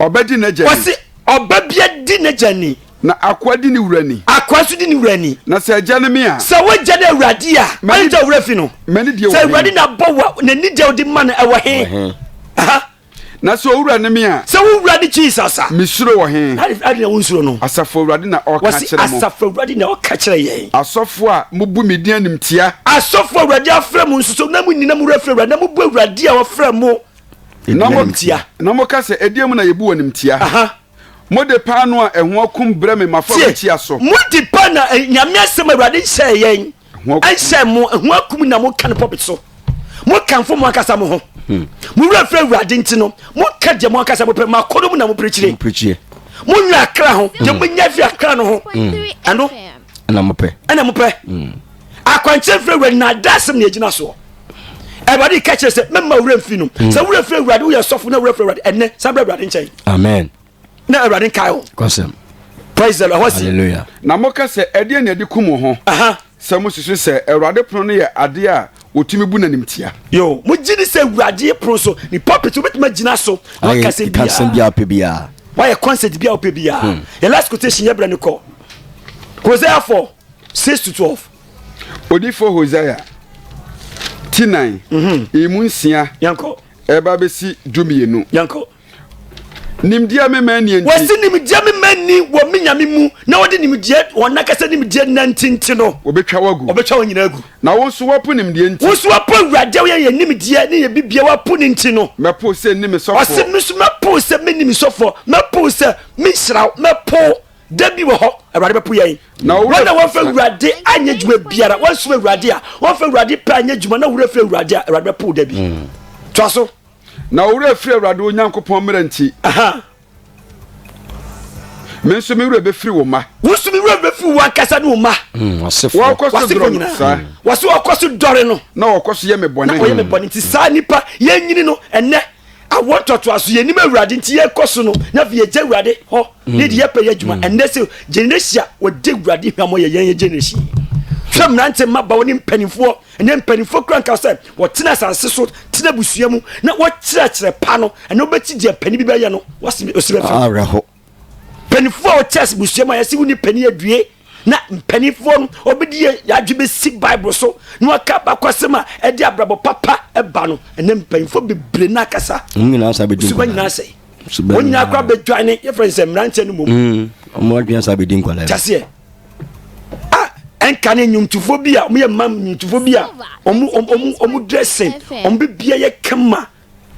ɔbɛdi n'agya ni ɔsi ɔba bia di n'agya ni na akoa di ne wura ni akoa nso di ne wura ni na sɛ agya ne me a sɛ wogya ne awurade a ɔne gya wura fi no sɛ awurade na bɔ wa n'ani deɛ ɔde ma no ɛwɔ he Na sɛ owura ne me a. Sɛ wo wura ne Jesus a. Mesuro wɔ he? That is adena wonsuro no. Asafo Awurade na ɔka kyerɛ mo. Wɔsi Asafo Awurade na ɔka kyerɛ yɛn. Asɔfo a mubu me din animtia. Asɔfo a Awurade afrɛ mo nso so na munni na mowura frɛ Awurade na mobu Awurade a ɔfrɛ mo animtia. Na moka sɛ ɛdeɛ mu na yɛbu wɔ animtia. Mode paano a ɛho akum brɛ me m'afɔrebukyia so. Mode paano a nyame asɛm Awurade nhyɛɛ yɛn. Ɛnsɛ mo ho akum na moka no pɔpi so. Mokamfo mo ankasa mo ho. Hmm. Mo werɛ firi Awurade nti no, moka deɛ mo ankasa mopɛ, mo akɔnnɔ mu na moperekyire. Monwene akra ho, deɛ hmm. monya firi akra no ho. Hmm. Ɛno ɛna mopɛ. Ɛna mopɛ. Akwankyerɛ firi Awurade na ada asɛm na ɛgyina soɔ. Awurade ka kyerɛ sɛ mɛma werɛ mfi no. Sɛ werɛ firi Awurade woyɛ sɔfo na werɛ firi Awurade ɛnɛ san brɛ Awurade nkyɛn. Amen. na awurade nkae wo kɔsɛm praise the lord ɛhɔ si hallelujah na moka sɛ ɛdeɛ na ɛde kum ho aha sɛ mosusu sɛ awurade pono no yɛ adeɛ a wɔtumi bu n'anim tia yo mo gye di sɛ awurade pono so ne pulpit wobɛtumi agyina so na ayɛ wakasɛm kasɛm biara biaa wopɛ biaa wayɛ concert biaa wopɛ biaa Hmm. yɛ last quotation yɛbrɛ no kɔ hosea 4 6 to 12 odifo hosea ti nan Mhm. emu nsia yɛnkɔ ɛba bɛsi dumienu yɛnkɔ nimdeɛ me ma nni nti. Wɔsi nimdeɛ me ma nni wɔ me nyame mu na wɔde nimdeɛ wɔn nakasa nimdeɛ nanti nti no. Wɔbɛtwa wo agu. Wɔbɛtwa wɔn nyinaa agu. Na wo nso wapo nimdeɛ nti. Wo nso wapo awurade a wɔyɛ yɛ nimdeɛ ne yɛ bibia wapo ne nti no. Mɛpo sɛ nni me sɔfoɔ. Ɔsi me nso mɛpo sɛ me nni me sɔfoɔ mɛpo sɛ me nhyira wo mɛpo da bi wɔ hɔ awurade bɛpo yɛn. Na wɔn na wɔn fɛ awurade anyɛ dwuma biara wɔn nso awurade a wɔn fɛ awurade pɛ anyɛ dwuma na wɔn fɛ awurade a awurade bɛpo da bi. Mm. To aso. Na wo werɛ firi Awurade wo Nyankopɔn mmara nti. Me nso me werɛ bɛfiri wo mma. Wo nso me werɛ bɛfiri wo ankasa ne wo mma. Hmm, wɔkɔ so dɔre no saa. Hmm. Wɔse wɔkɔ so dɔre no. Na wɔkɔ so yɛ me bɔne. Na wɔyɛ me bɔne nti saa nipa yɛnyini no ɛnɛ awɔ ntɔtoa so yɛnim awurade nti yɛkɔ so no na afei yɛgya awurade hɔ hmm. ne de yɛpɛ yɛ adwuma ɛnɛ sɛ generation a wɔde awurade hwammɔ yɛ yɛn yɛ generation hwɛ mmerante mmabawa ne mpanimfoɔ Ɛnɛ mpanimfoɔ kura nka sɛ wɔtena asase so, tena abusua mu na wɔkyerɛkyerɛ pa no. Ɛnɛ wobɛkyi deɛ panin bi bɛyɛ no, wɔsi osi bɛfa. Awerɛho. Mpanimfoɔ a wɔkyerɛ ase busua mu a yɛsi wonni panin adue na mpanimfoɔ no wɔbɛdi yɛ adwe bɛsi Bible so na wɔaka baako asɛm a ɛde abrabɔ papa ba no. Ɛnɛ mpanimfoɔ bebree na akasa. Wɔn nyinaa sa bɛdi nkwa. Suba nyinaa sɛ. Wɔn nyinaa kora bɛdwane yɛfrɛ nsɛ mmeranteɛ no mmom. Mm, wɔn adwene sa bɛdi nkwa. Kyaseɛ. a ɛnka ne nnwomtofo bi a wɔyɛ mma nnwomtofo bi a wɔn wɔn wɔn dressing wɔn bibia yɛ kama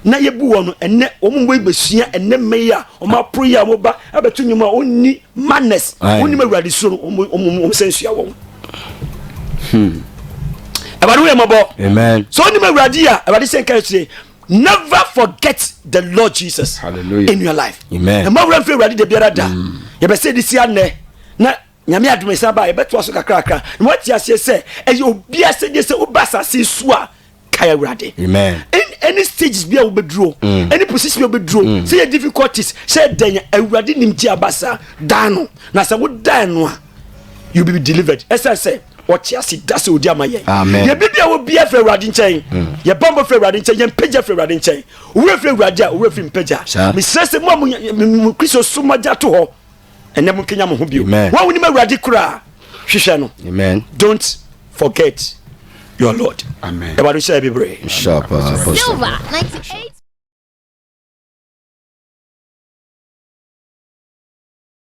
na yɛbu wɔn no ɛnɛ wɔn mu bɛsua ɛnɛ mma yi a wɔn aporo yi a wɔn ba abɛto nnwom a wɔnni manners wɔnnim awurade suro no wɔn wɔn wɔn sɛ nsua wɔn. Hmm. awurade woyɛ mmɔbɔ sɛ wonim awurade a awurade sɛ nka kyerɛ never forget the lord jesus Hallelujah. in your life Amen. ɛma wura mfiri awurade da biara da mm. yɛbɛsɛ de si anɛ na nyame adom ɛsan baa yɛbɛtoa so kakrakra na woate aseɛ sɛ ɛyɛ obia sɛ gye sɛ woba asase su a kae awurade ɛne stages bi a wobɛduro ɛne mm. position bi a wobɛduro mm. sɛ yɛ difficulties sɛ dɛn awurade nim gye aba saa daa no na sɛ wodaa no a you be delivered ɛsɛ sɛ Ɔte ase da sɛ ɔdi ama yɛn. Yɛbibia wɔ bia firi Awurade nkyɛn. Mm. Yɛbambɔ firi Awurade nkyɛn. Yɛmpagya firi Awurade nkyɛn. Owura firi Awurade a owura firi mpagya. Mesrɛ sɛ mo a mo Kristo so mogya to hɔ ɛnɛ mo nkenya mo ho bio. Wɔn a wonim Awurade koraa hwehwɛ no. Don't forget your Lord. Amen. Awurade hyɛ yɛ bebree. Silver ninety eight.